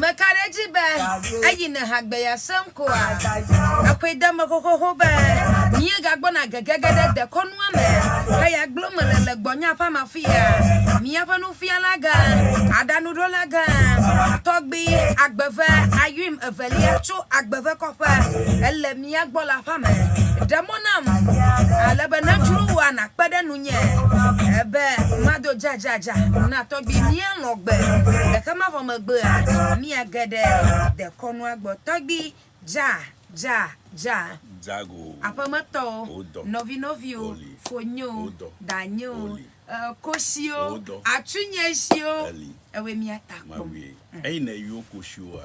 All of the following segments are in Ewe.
Meka ɖe edzi be eyi ne hã gbe yease ŋkɔa? Ekɔe de eme xoxoxo be míegagbɔna gegege ɖe dekɔnua me heya gblɔm mele le gbɔnye aƒea me afia. Míaƒe nufialagã, aɖaŋuɖolagã tɔgbi agbe eve, Ayuim evelia, tso agbe eve kɔƒe. Ele mía. mia gbɔ le aƒea me. Ɖe mɔ nam ale be nàdzro wò a nàkpe ɖe nunye be mado dzadzadza na tɔgbui míanɔ gbe. Gake mavɔ megbea, míage ɖe dekɔnua gbɔ. Tɔgbui, Dza, dza, dza. Dzago. Aƒemetɔwo, Wodɔ. Nɔvinɔviwo, Oli. Fonyo, Wodɔ. Danye o, Oli. e, koshiwo, Wodɔ. Atsunyeshiwo, Eli. ewe mía ta kpɔ. Mawie. Eyi ne yio koshiwoa.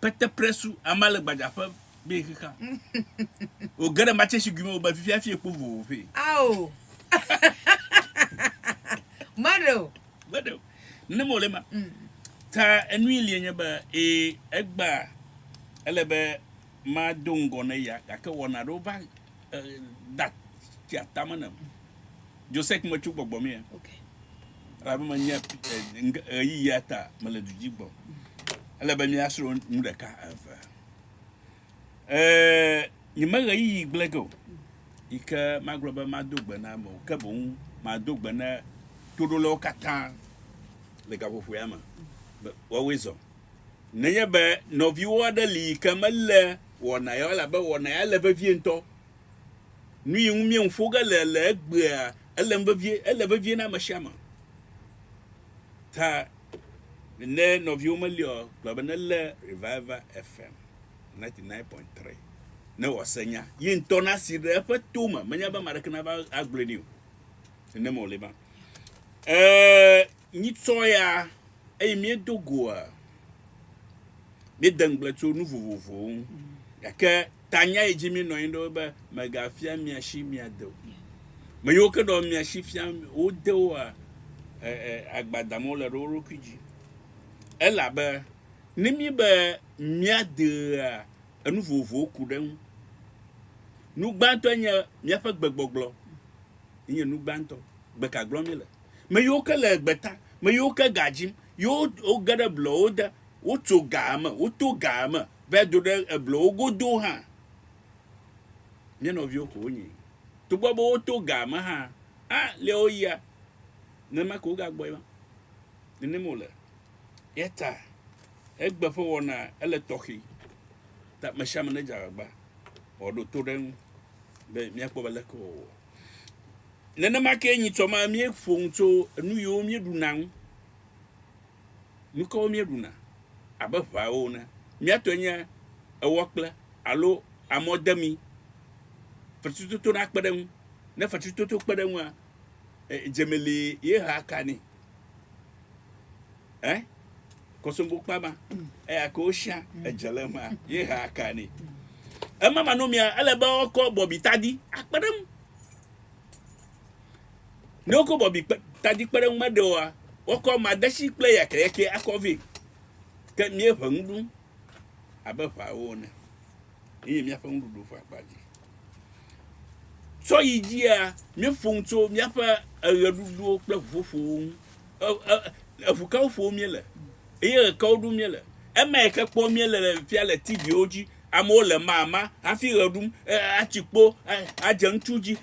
Pete presu ama le gbadza ƒe be xixa. O gere matse si guime o be fifia fie kpo vovo fe. Ao. Madeo. Madeo. Ne mo le ma. Mm. Ta enui li enye be e egba ele be ma do ngɔ ne ya gake wɔna do va da tia tame ne. Josek metso gbɔgbɔ mea? Okay. Elabe menye ɣeyiɣia ta mele du dzi gbɔ. Ele be míasrɔ̃ nu ɖeka eve. Ee, nyeme ɣeyiɣi gblẽ ge o yi ke magblɔ be mado gbe na amewo, ke boŋ mado gbe na toɖolawo katã le gaƒoƒoea me be woawoe zɔ. Nenye be nɔviwo aɖe li yi ke melé wɔna ya o, elabe wɔna ya le vevie ŋutɔ, Nu yi ŋu míeŋu ƒo ge le le egbea, elém vevie, ele vevie na ame sia ame. Ta ne nɔviwo meli o, gblɔ be nelé Revival FM 99.3 ne wòase nya. Ye ŋutɔ nasi ɖe eƒe to me, menye be ame aɖeke nava agblɔe nɛ o. Nenema wòle ema. Ee, míetsɔ ya eye míedo goa, míede ŋugble tso nu vovovowo ŋu. Gake Tanya yi dzi mi nɔ anyi ɖo be megafia mia shi mia de o. Me yiwo ke nɔ mia shi fia wo de woa e, e, agbadam wole ɖe wo ɖokui dzi. Elabe ne mi be mia dea enu vovovowo ku ɖe ŋu. Nu gbãtɔe nye miaƒe gbegbɔgblɔ. Enye nu gbãtɔ. Gbe ka gblɔ mi le? Me yiwo ke le gbe ta, me yiwo ke ga dzim, yiwo woge ɖe blɔwo de, wotso ga me, woto ga me, Va do ɖe eblowo godo hã, mía nɔviwo ko wonye. Togbɔ be woto ga me hã, a lé wo yia, nenema ko wogagbɔe ma. Nenema wòle. Eya ta egbe ƒe wɔna ele tɔxɛ. Ta me sia me nedze agbagba wòaɖo to ɖe eŋu be míakpɔ be leke wòawɔ. Nenema ke nyitsɔ ma míeƒo nu tso enu yiwo míeɖuna ŋu. Nu kawo míeɖuna abe ʋawo ene? Mía tɔe nye ewɔkple alo amɔdemi. Fetritoto na kpe ɖe eŋu. Ne fetritoto kpe ɖe eŋua, dzemi li ye hea ka nɛ. Ɛ? Kɔsombo kpa ma, eya ke wosia edze le ema ye hea ka nɛ. Ema manɔmea, ele be woakɔ bɔbitadi akpe ɖe eŋu. Ne wokɔ bɔbi kpe, tadi kpeɖeŋu meɖe oa, woakɔ madetsi kple yakɛyakɛ akɔ vɛ. Ke míeʋe nu ɖum abe ʋawo ene. Ye nye míaƒe nuɖuɖu ƒe akpa dzi. Tsɔ yi dzia, míeƒo nu tso míaƒe eɣeɖuɖuwo kple ʋuƒoƒowo ŋu. E, e, eʋu kawo ƒom míele eye ɣe kawo ɖum míele. Emae ke kpɔm míele le fifia le TV-wo dzi Amewo le mama hafi ɣe ɖum atsi kpo adze ŋutsu dzi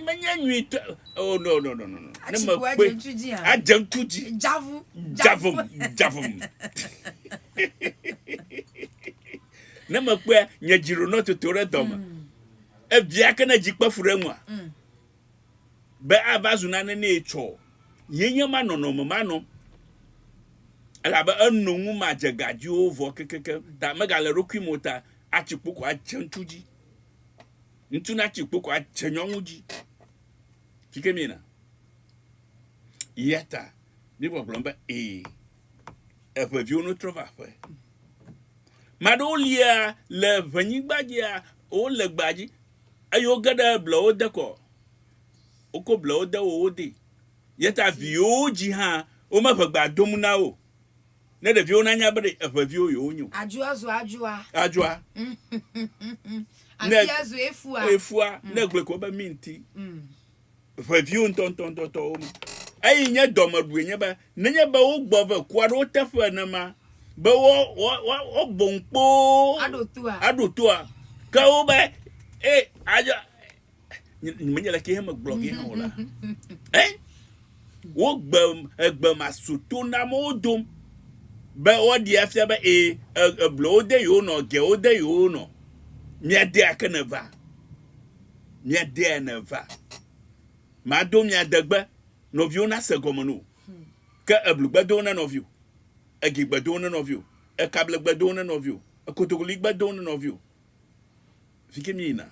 menye nyuitɔ oh no no no no no ne me kpe adze ŋutsu dzi dzavu dzavu dzavu ne me kpe nye dzi ɖo nɔ toto ɖe dɔme mm. ebia ke ne dzi kpe fu ɖe ŋua mm. be ava zu nane nɛ tsɔ. Ye nye ma nɔnɔme ma nɔ, elabe eno ŋu ma dze ga dzi o vɔ kekekem ta mega le eɖokui me o ta atsi kpo ko adze ŋutsu dzi. Ŋutsu na tsi kpo ko adze nyɔnu dzi. Fike mi na. Yata mi gbɔgblɔ be e, eƒe viwo no trɔ va ƒe. Maɖewo lia le ʋenyigba dzia, wo le gbadzi, Eye woge ɖe blewo de kɔ, woko blewo de wo wo dee. Yeta viwo dzi hã womeʋe gbea dom na wo o. Ne ɖeviwo nanya be ɖe eʋe viwo yewo nyo. Adzua zua adzua. Adzua. Asia zue fua. Efua, ne gblɔe ko be mi ŋti. ʋeviwo ŋutɔŋutɔŋutɔwo me. Eyi nye dɔmeɖue nye be nenye be wogbɔ ve kua ɖe wo teƒe enema be woagbɔ ŋu kpoo aɖo toa, ke wo be e adzɔ menye le ke heme gblɔ ge hã o la. E wo gbe egbe ma so to na mo dom be woaɖi afia be e eblo wo de yo no ge wo de yo no. Mia de ake ne va. Miadea ne va. Mado mia degbe. Nɔviwo na se gɔme no. Ke eblu gbe do ne nɔvio. Egi gbe do ne nɔvio. Ekable gbe do ne nɔvio. Ekotokoli gbe do ne nɔvio. Fike mi yina.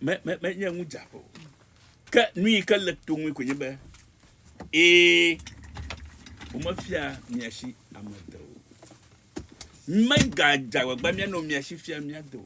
Me, me, me nye ŋu dza po. Ke nui ke le to ŋui konye be. Ee. Ome fia mia shi amedewo. Mega dza wagba mia no mia shi fia mia do.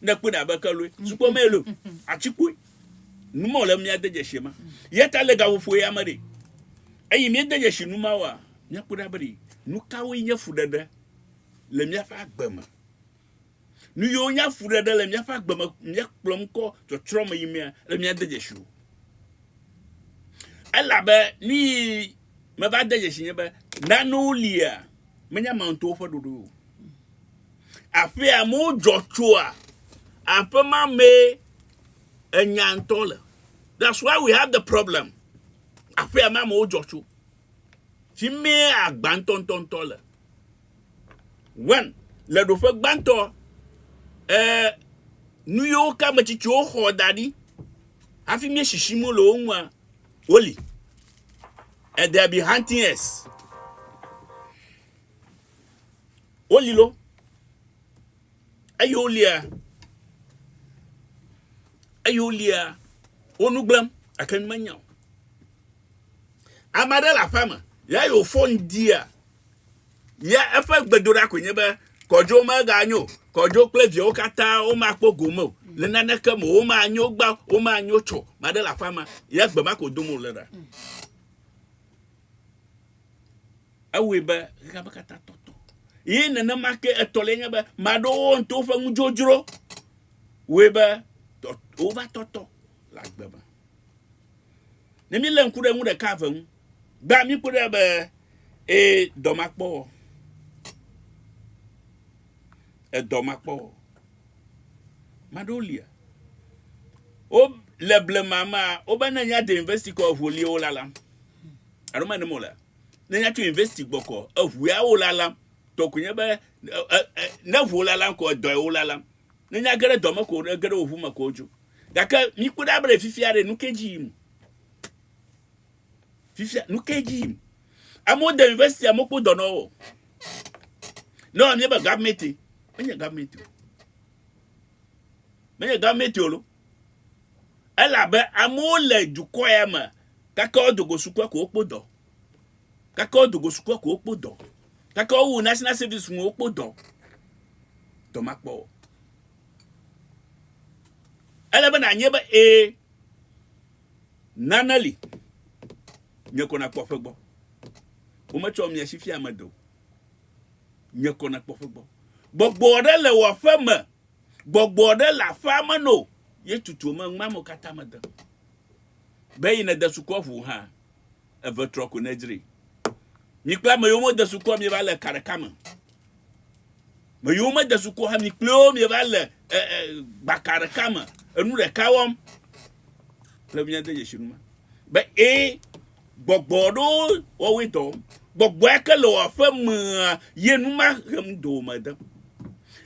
Ne kpɔe ɖa be ke loe, sukɔ mee lo, atsikpoe. Nu mɔ le mia de dzesi ma. Yeta le gaƒoƒo ya me ɖi. Eyi mi de dzesi nu ma wa, mia kpɔe ɖa be ɖi nu kawo nye fuɖeɖe le mia ƒe agbe me. Nu yiwo nye afuɖeɖe le mia ƒe agbe me mia kplɔ ŋkɔ tsɔtsrɔ me yi mea, le mia de dzesi wo. Elabe nu yi me va de dzesi nye be, nanewo lia, menya ma ŋutɔwo ƒe ɖoɖoe o. Aƒee amewo dzɔ tsoa, aƒe ma mee enya ŋutɔ le. That's why we have the problem. Aƒea me amewo dzɔ tso. Fi mee agba ŋutɔŋutɔŋutɔ le. When le ɖoƒe gbãtɔ, eh, nu yiwo ke ame tsitsiwo xɔ da ɖi hafi mie shishi mo le wo ŋua, woli. And they be hunting us. Woli lo, eye wolia, eye wolia, wo nu gblẽm, gake nu menya o. Ame aɖe le aƒea me, ya yi wòfɔ ŋdia, ya eƒe gbedoɖa koe nye be, kɔdzo meganyo, kɔdzo kple viawo katã womakpɔ gome o, le naneke me womanyo gbã, womanyo tsɔ, ame aɖe le aƒea me, ya gbe ma ko dom wòle ɖa. Ewɔe be xexea me katã tɔtɔ. Ye nenema ke etɔ̃lia nye be ame aɖewo to woƒe nudzodzro wɔe be wova tɔtɔ le agbe me. Ne mílé ŋku ɖe nu ɖeka eve ŋu, gbea míkpɔ ɖe be ee dɔ makpɔ wɔ. Edɔ makpɔ wɔ. Ame aɖewo lia. Wo le blema mea, wobena nya de university kɔ eŋu li wo lalam. Alo mene me o lea? ne nya tso university gbɔ kɔ eʋuea wo lalam tɔ ko nye be ne ʋu wo lalam ko edɔe wo lalam ne nya ge ɖe dɔ me ko ne ge ɖe wo ʋu me ko dzo gake mi kpɔ ɖa be fifia ɖe nu ke dzi yim fifia nu ke dzi yim amewo de university amewo kpɔ dɔ nɔwo ne wɔmie be government enye government o menye government o lo Elabe amewo le dukɔ ya me gake wodo go sukua ko wokpɔ dɔ. Gake wodo go sukua ko wokpɔ dɔ. Gake wowu national service ŋu wokpɔ dɔ. Dɔ ma kpɔ o. Ele be nanye be ee nane li. Nye ko nakpɔ ƒe gbɔ. Wometsɔ mia si fia ame do. Nye ko nakpɔ ƒe gbɔ. Gbɔgbɔ ɖe le wò aƒe me Gbɔgbɔ aɖe le aƒea me no. Ye tutu me ŋmea me katã mede. Be yi nede sukua ʋu hã eve trɔ ko nedzri. Mi kple ame yiwo mede sukua mi va le ka ɖeka me. Me yiwo mede sukua hã mi kple wo mi va le e, e, gbaka ɖeka me. Enu ɖeka wɔm. Kple mi ade dzesi nu ma. Be e Gbɔgbɔ ɖowo wɔwoe dɔ. Gbɔgbɔ ya ke le wò aƒe mea ye nu ma hem do me de.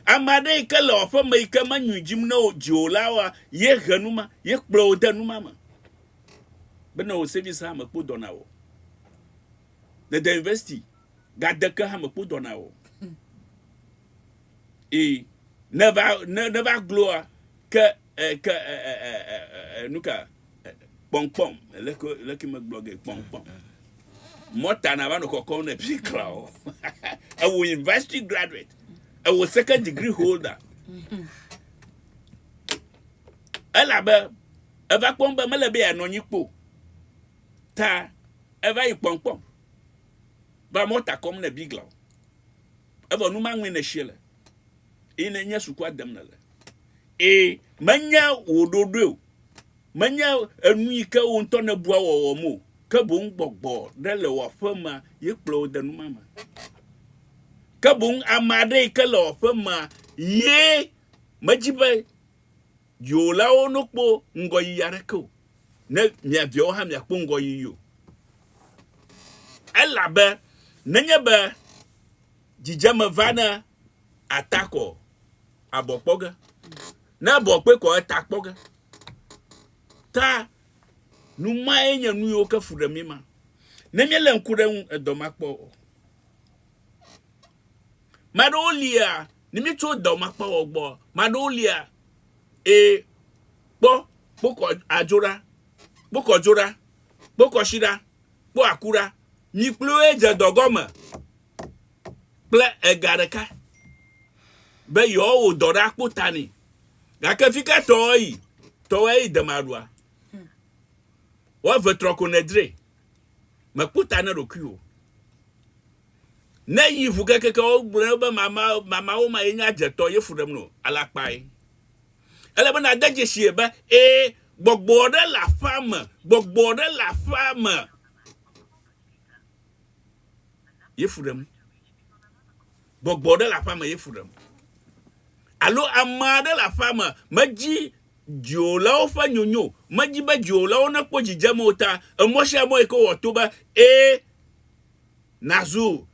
Ame aɖe yi ke le wò aƒe me yi ke menyoe dzim ne wò dzi o la wa ye he nu ma, ye kplɔ wò de nu ma me. Be ne wò sevis hã mekpo dɔ na wò o. Ne de university gade ke hã mekpo dɔ na wò o. Ee, ne va ne ne va gloa ke E, ke e, e, e, e, e, nu ka? E, kpɔnkpɔm. Leke, leke megblɔ ge kpɔnkpɔm. Mɔta na va nɔ kɔkɔm ne pi kra o. Ewo university graduate. Ewo second degree holder. Elabe eva kpɔm be mele be yeanɔ anyi kpo. Ta eva yi kpɔnkpɔm. Va mɔta kɔm ne bigla o. Evɔ nu maŋue ne sie le. Yi ne nye sukua dem nele. Ẽ, menye wò ɖoɖoe o, menye enu yi ke wò ŋutɔ nèbua wɔwɔm o, ke boŋ gbɔgbɔ ɖe le wò aƒemea ye kplɔ wò de nu ma me. Ke boŋ ame aɖe yi ke le wò aƒemea ye medzi be dziwòlawo nokpɔ ŋgɔyiyi aɖeke o, ne mia viawo hã miakpɔ ŋgɔyiyi o. Elabe nenye be dzidzeme vana ata kɔ abɔ kpɔ ge. Ne abɔ kpe kɔ eta kpɔ ge. Ta nu mae nye nu yiwo ke fu ɖe mí ma. Ne míelé ŋku ɖe eŋu edɔ makpɔ o. Ame aɖewo lia, ne míetso edɔ makpɔ o gbɔ, ame aɖewo lia, ee, kpɔ, kpokɔ adzo ɖa, kpokɔ dzo ɖa, kpokɔ shi ɖa, kpɔ aku ɖa, mi kpli wo dze dɔ gɔme. kple ega ɖeka be yewoawɔ dɔ ɖe akpo ta nɛ. Gake fi ka tɔ eyi? Tɔ eyi demaɖua. Woave trɔ ko nedre. Mekpo ta ne ɖokui o. Ne yi ŋu kekeke wogblɔ be mama mamawo ma ye nye adzetɔ ye fu ɖem no alakpae. Ele be nade dzesi be e gbɔgbɔ ɖe le aƒea me, gbɔgbɔ ɖe le aƒea me. Yefu ɖem. Gbɔgbɔ ɖe le aƒea me, yefu ɖem. Alo ame aɖe le aƒea me, medzi dziwòlawo ƒe nyonyo, medzi be dziwòlawo nekpɔ dzidzeme o ta, emɔ sia mɔ yi ke wòwɔ to be ẽ nazu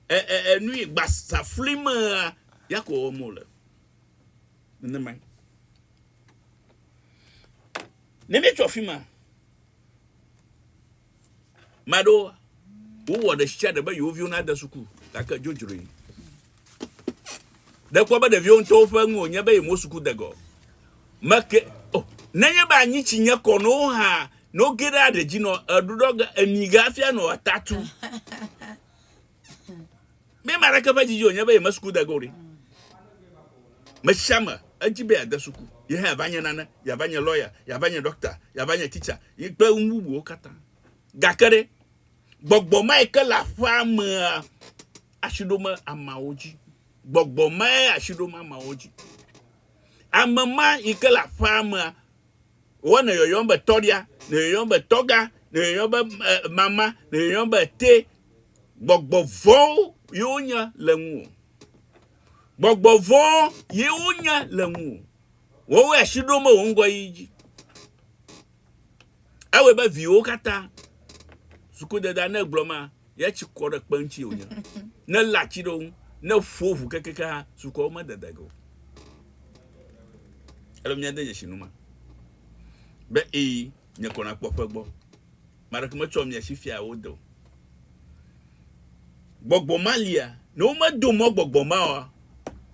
nui gbasaflimea, ya ko wɔm wòle. Nenemae. Ne míetso afi ma, Maɖewo wowɔ ɖe sia ɖe be yewo viwo nade suku gake dzodzroe. Ɖekpɔ be ɖeviwo ŋutɔwo ƒe nu wònye be yemewo suku degɔ. Meke o. Oh, nenye be anyi tsi nye kɔ no hã no ge ɖe aɖe dzi nɔ eɖuɖɔ ge emi ge afia nɔ atatu. Mi ame aɖeke ƒe didi wònye be yeme suku de ge o ɖi. Me sia me edzi be yeade suku, ye hã yeava nye nane, yeava nye lɔya, yeava nye ɖɔkta, yeava nye titsa, yi kple nu bubuwo katã. Gake ɖe, gbɔgbɔ mae ke le aƒea mea asi ɖom ameawo dzi. Gbɔgbɔ mae asi ɖom ameawo dzi. Ame ma yi ke le aƒea mea Wɔ nèyɔyɔm be tɔɖia, nèyɔyɔm be tɔga, nèyɔyɔm be mama, nèyɔyɔm be te. Gbɔgbɔ vɔ̃wo ye wonye le ŋuwò. Gbɔgbɔ vɔ̃ ye wonye le ŋuwò. Wowoe asi ɖom be wò ŋgɔyiyi dzi. Ewɔe be viwòwo katã suku deda ne gblɔ ma Ye tsi kɔ ɖe kpe ŋuti wònye. Ne lé atsi ɖe wo ŋu, ne ƒo ʋu kekeake hã, sukuawo medede ge o. Ele be míade dzesi nu ma be ii, nye kɔ nakpɔ ƒe gbɔ. Ame aɖeke metsɔ mia si fia wo de o. Gbɔgbɔ ma lia, ne womedo mɔ gbɔgbɔ ma oa,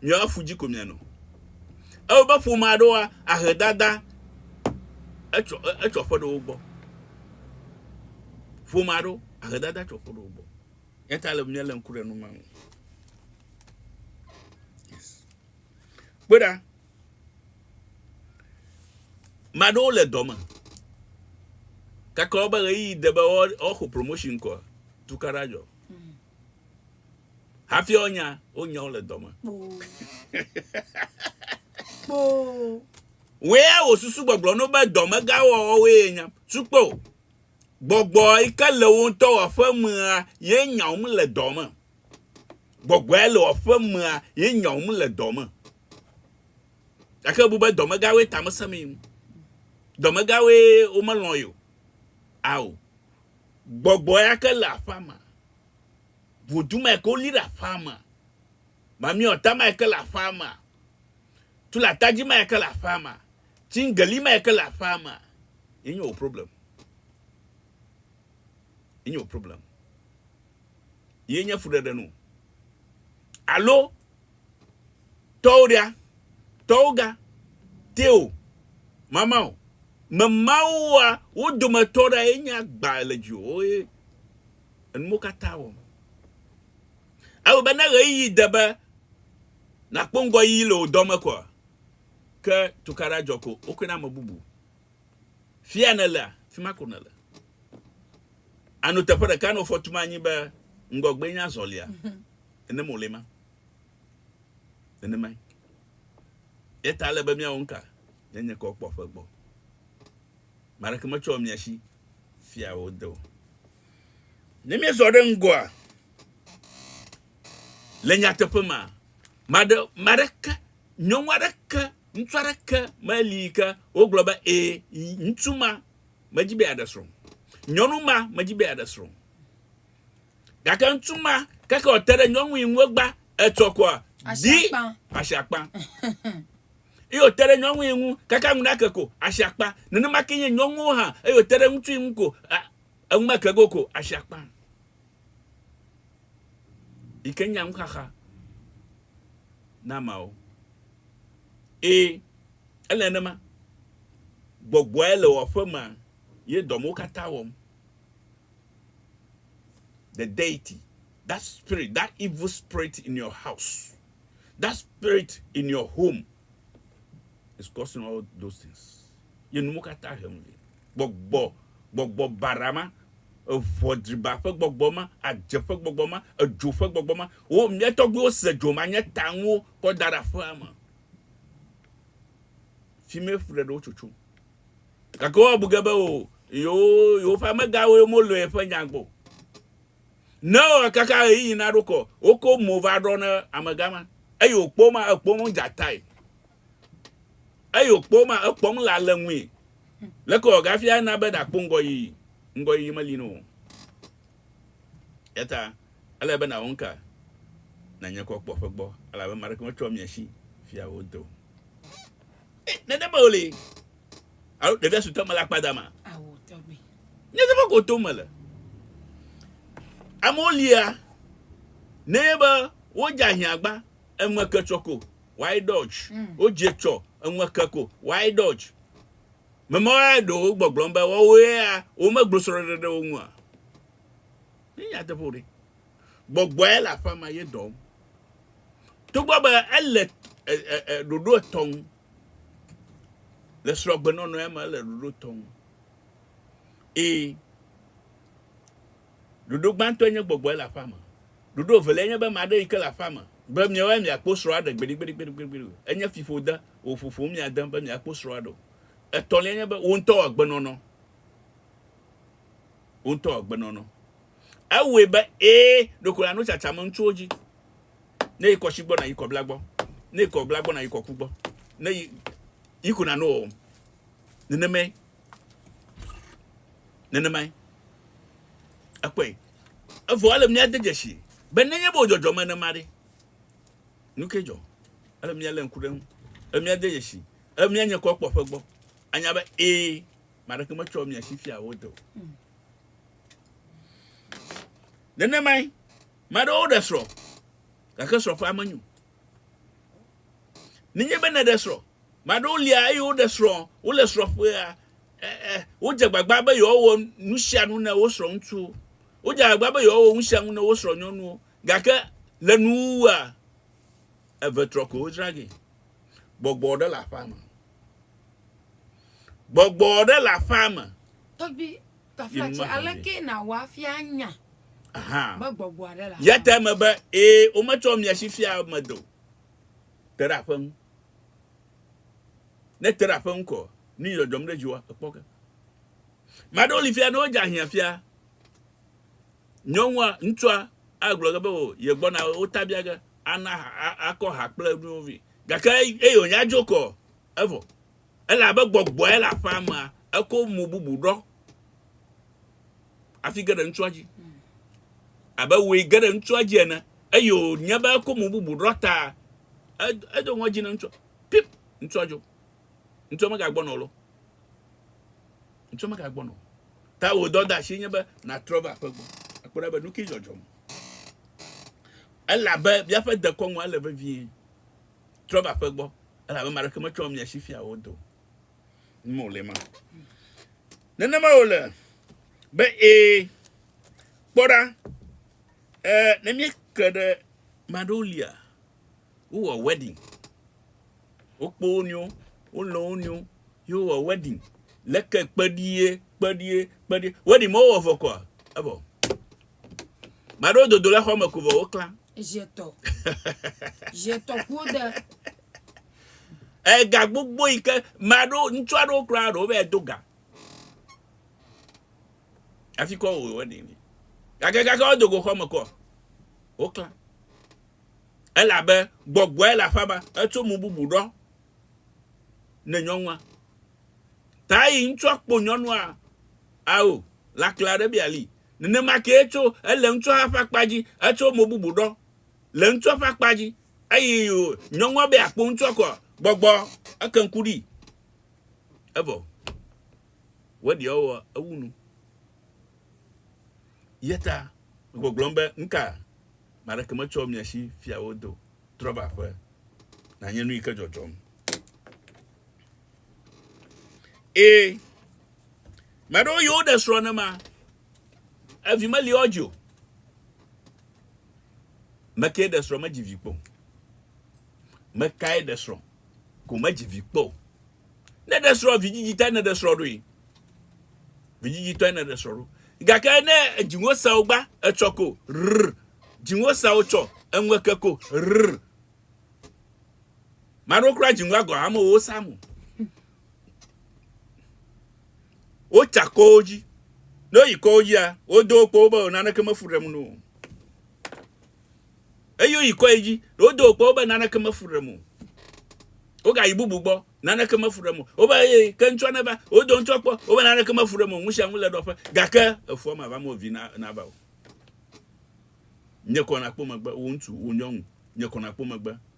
miawo afu dzi ko mianɔ. Ewɔ be ƒome aɖewoa, ahe dada etsɔ etsɔ ƒe ɖe wo gbɔ. Ƒome aɖewo ahe dada etsɔ ƒe ɖe wo gbɔ. Eya ta le be míalé ŋku ɖe nu ma ŋu. Yes. Kpe ɖa. Ame aɖewo le dɔ me. Gake wobe ɣeyiɣi de be woaxɔ promotion kɔ tukaɖa dzɔ. Hafi wonya, wonya wole dɔ me. Kpoo. Wea wò susu gbɔgblɔ no be dɔmegãwɔwɔwoe nya. Sukpo, gbɔgbɔ yi ke le wò ŋutɔ wò aƒemea ye nya wòm le dɔ me. Gbɔgbɔe le wò aƒemea ye nya wòm le dɔ me. Gake bu be dɔmegãwoe tamesẽmee. Dɔmegãwoe womelɔ̃ ye o. Ao. Gbɔgbɔe ake le aƒea me. Vodun ma eke woli ɖe aƒea me. Mamiɔta ma eke le aƒea me. Tulatadzi ma eke le aƒea me. Tsingeli ma eke le aƒea me. Yenye wò problem. Yenye wò problem. ye nye fuɖeɖe nu. Alo, tɔwɖea, tɔwga, teo, mamao, memaoa, wo dometɔ ɖa ye nye agba le dziwò ye enumo katã wɔm. Ewɔ be ne ɣeyiɣi de be nakpɔ ŋgɔyiyi le wò dɔ me koa, ke tukaɖa dzɔ ko wokɔe na ame bubu. Fia nèlea, fi ma ko nèle. Àno teƒe ɖeka nɔ fɔ tum anyi be ŋgɔgbee nye azɔlia. Nenem wòle ema. Nenemae. Eya ta ele be míawɔ nu ka? Míanye kɔ kpɔ ƒe gbɔ. Ame aɖeke metsɔ mia si fia wo de o. Ne míezɔ ɖe ŋgɔa, le nyateƒe ma, maɖe, maɖeke, nyɔnu aɖeke Ŋutsu aɖeke meli yi ke wogblɔ be, Ẽ, ŋutsu ma medi be yeaɖe srɔ̃. Nyɔnu ma medi be yeaɖe srɔ̃. Gake ŋutsu ma, keke wòte ɖe nyɔnu yi ŋu egbã etsɔ koa, di asi akpa. Eye wòte ɖe nyɔnu yi ŋu keke enu nake ko, asi akpa. Nenema ke nye nyɔnuwo hã, eye wòte ɖe ŋutsu yi ŋu ko, enu meke ge o ko, asi akpa. yi ke nya nuxaxa na ameawo. Ẽ, ele nenema. Gbɔgbɔe le wò aƒe mea, ye dɔ mawo katã wɔm. The deity, that spirit, that evil spirit in your house, that spirit in your home is causing all those things. Ye nu mawo katã hem vɛ. gbɔgbɔ, gbɔgbɔ baɖa ma, eŋɔ driba ƒe gbɔgbɔ ma, adze ƒe gbɔgbɔ ma, edzo ƒe gbɔgbɔ ma. Wo, mía tɔgbuiwo se dzo ma nye ta ŋuwo kɔ da ɖe aƒea me. Fi mee ƒu ɖe ɖe wo tsotso. Gake woabu ge be o, yewo, yewoƒe amegawoe molɔ̃e ƒe nya gbɔ o. Ne kaka ɣeyiɣi naɖo kɔ, woko mo va ɖɔ ne amega ma, eye wòkpɔ ma, ekpɔ mo dza tae. Eyi wòkpɔ wo ma, ekpɔm le alé ŋui. Leke wòawɔ ge hafi ana be nàkpɔ ŋgɔyiyi? Ŋgɔyiyi meli na wò o. Eya ta ele be nàwɔ nuka? Nànye kɔ kpɔ ƒe gbɔ, elabe ame aɖeke metsɔ mia si fia wò de o. Nenema wòli. Alo ɖevia sutɔ mele akpa dama. Nye teƒe ko tom mele. Amewo lia ne be wodze ahiãgba, eme ke tsɔ ko. why dodge? Wo dze tsɔ eŋu eke ko, why dodge? Memawo ya ɖo wo gbɔgblɔm be woawo ya wo me glo srɔɖeɖe ɖe wo ŋua? Nye nya teƒe o ɖe. Gbɔgbɔ ya le aƒea ma ye dɔm. Togbɔ be ele ɖoɖo etɔ̃ ŋu le srɔgbenɔnɔ ya me ele ɖoɖo etɔ̃ ŋu. Ee. Ɖoɖo gbãtɔe nye gbɔgbɔe le aƒea me. Ɖoɖo eveliae nye be ame aɖe yi ke le aƒea me be miawoe miakpo srɔ̃a ɖe gbeɖegbeɖegbeɖe o. Enye fiƒode wòƒoƒom mia de be miakpo srɔ̃a ɖe o. Etɔ̃lia nye be wò ŋutɔ wò agbenɔnɔ. Wò ŋutɔ wò agbenɔnɔ. Ewɔe be ee, ɖeko nàno tsatsa me ŋutsuwo dzi. Ne yi kɔshi gbɔ nàyi kɔbla gbɔ. Ne yi kɔbla gbɔ nàyi kɔku gbɔ. Ne yi, yi ko nàno wɔwɔm. Nenemae nenemae ekpɔe evɔ ele mía de dzesi be nenye bo dzɔdzɔ me nema ɖe nuke dzɔ ele mía le ŋku ɖe ŋu ele mía de dzesi ele mía nye kɔ kpɔ ƒe gbɔ anya be ee maɖeke metsɔ mia si fia wo do nenemae maɖewo ɖe srɔ gake srɔ ƒe ame nyo Nenye be nèɖe srɔ̃. Ame aɖewo lia eye woɖe srɔ̃, wole srɔ̃ƒea, e, e, wodze agbagba be yewoawɔ nu sia nu ne wosrɔ̃ ŋutsuwo. Wodze agbagba be yewoawɔ nu sia nu ne wosrɔ̃ nyɔnuwo. Gake le nuwuwua, eve trɔ koe wodzra ge. Gbɔgbɔ aɖe le aƒea me. Gbɔgbɔ aɖe le aƒea me. Tafia tse, alekee nàwɔ afia anya be gbɔgbɔa ɖe le Ya te aƒea me. eme be, Ee, wometsɔ mia si fia ame do. Te ɖe aƒe ŋu. Ne ète ɖe aƒe ŋu ko, nu yi dzɔdzɔm ɖe dziwòa, èkpɔ ke. Ame aɖewo li fia ne wodze ahiãfia. Nyɔnua, ŋutsua agblɔ ge be, O, yegbɔna, wotabia ge, ana ha, a- akɔ ha kple nuwo vɛ. Gake eye wònya dzo ko, evɔ. Elabe gbɔgbɔe le aƒea mea, eko mo bubu ɖɔ hafi ge ɖe ŋutsua dzi, abe wòe ge ɖe ŋutsua dzi ene, eye wònye be eko mo bubu ɖɔ ta edo ŋɔdzi na ŋutsua. Pip! Ŋutsua dzo. Ŋutsua megagbɔna o lɔ. Ŋutsua megagbɔna o. Ta wò dɔdeasie nye be nàtrɔ va aƒe gbɔ akpɔ ɖa be nu kae dzɔdzɔm. Elabe míaƒe dekɔnua le vevie. Trɔ va aƒe gbɔ, elabe ame aɖeke metsɔ mia si fia wò do ŋu o le ma. Nenema wòle be ee. Kpɔ ɖa, e, ne míeke ɖe maɖewo lia, wowɔ wedding, wokpo wo nɔewo, wolɔ wo nɔewo, ye wowɔ wedding. Leke kpeɖie, kpeɖie, kpeɖie. Wedding mewowɔ vɔ kɔa, evɔ. Maɖewo dodo le xɔme ko vɔ woklã. Ezetɔ. Zetɔ kpo de. Ega gbogbo yi ke maɖo ŋutsu aɖewo kura ɖo be do ga. Afi kɔ wo wɔni. Gake gake wo dogo xɔme kɔ. Woklã. Elabe gbɔgbɔe le aƒa ma etso mu bubu ɖɔ ne nyɔnua. Ta yi ŋutsua kpo nyɔnua ao lakla ɖe biali. Nenema kee tso ele ŋtsɔa ƒe akpa dzi, etso mo bubu ɖɔ le ŋtsɔa ƒe akpa dzi, eyi o nyɔŋua be akpo ŋtsɔa kɔa gbɔgbɔ eke ŋku ɖi. Evɔ weɖiɔ wɔ ewu nu. Yeta gbɔgblɔm be ŋka maɖeke metsɔ mia shi fiawo do trɔva ƒe na nye nu yi ke dzɔdzɔm. E. Meɖewo yiwo ɖe srɔ̃ nema, evi meli woa dzi o. Mekee ɖe srɔ̃ medzi vi kpɔ o. Mekae ɖe srɔ̃ ko medzi vi kpɔ o. Ne ɖe srɔ̃ vidzidzitɔe ne ɖe srɔ̃ ɖoe. Vidzidzitɔe ne ɖe srɔ̃ ɖo. Gake ne edziŋo sawo gba etsɔ ko rr. Dziŋo sawo tsɔ eŋue ke ko rr. Maɖo kura dziŋo agɔ amewo samu. wotsa kɔwo dzi ne woyi kɔwo dzia wodo wo kpɔwo be naneke mefu ɖem no eye woyi kɔe dzi wodo wo kpɔwo be naneke mefu ɖem o wogayi bubu gbɔ naneke mefu ɖem o wobe eye ke ŋutsɔ ne va wodo ŋutsɔ kpɔ wobe naneke mefu ɖem o ŋusia ŋu le ɖɔƒe gake efua ma va mo vi na na va o nye kɔna kpɔ megbe wo ŋutsu wo nyɔnu nye kɔna kpɔ megbe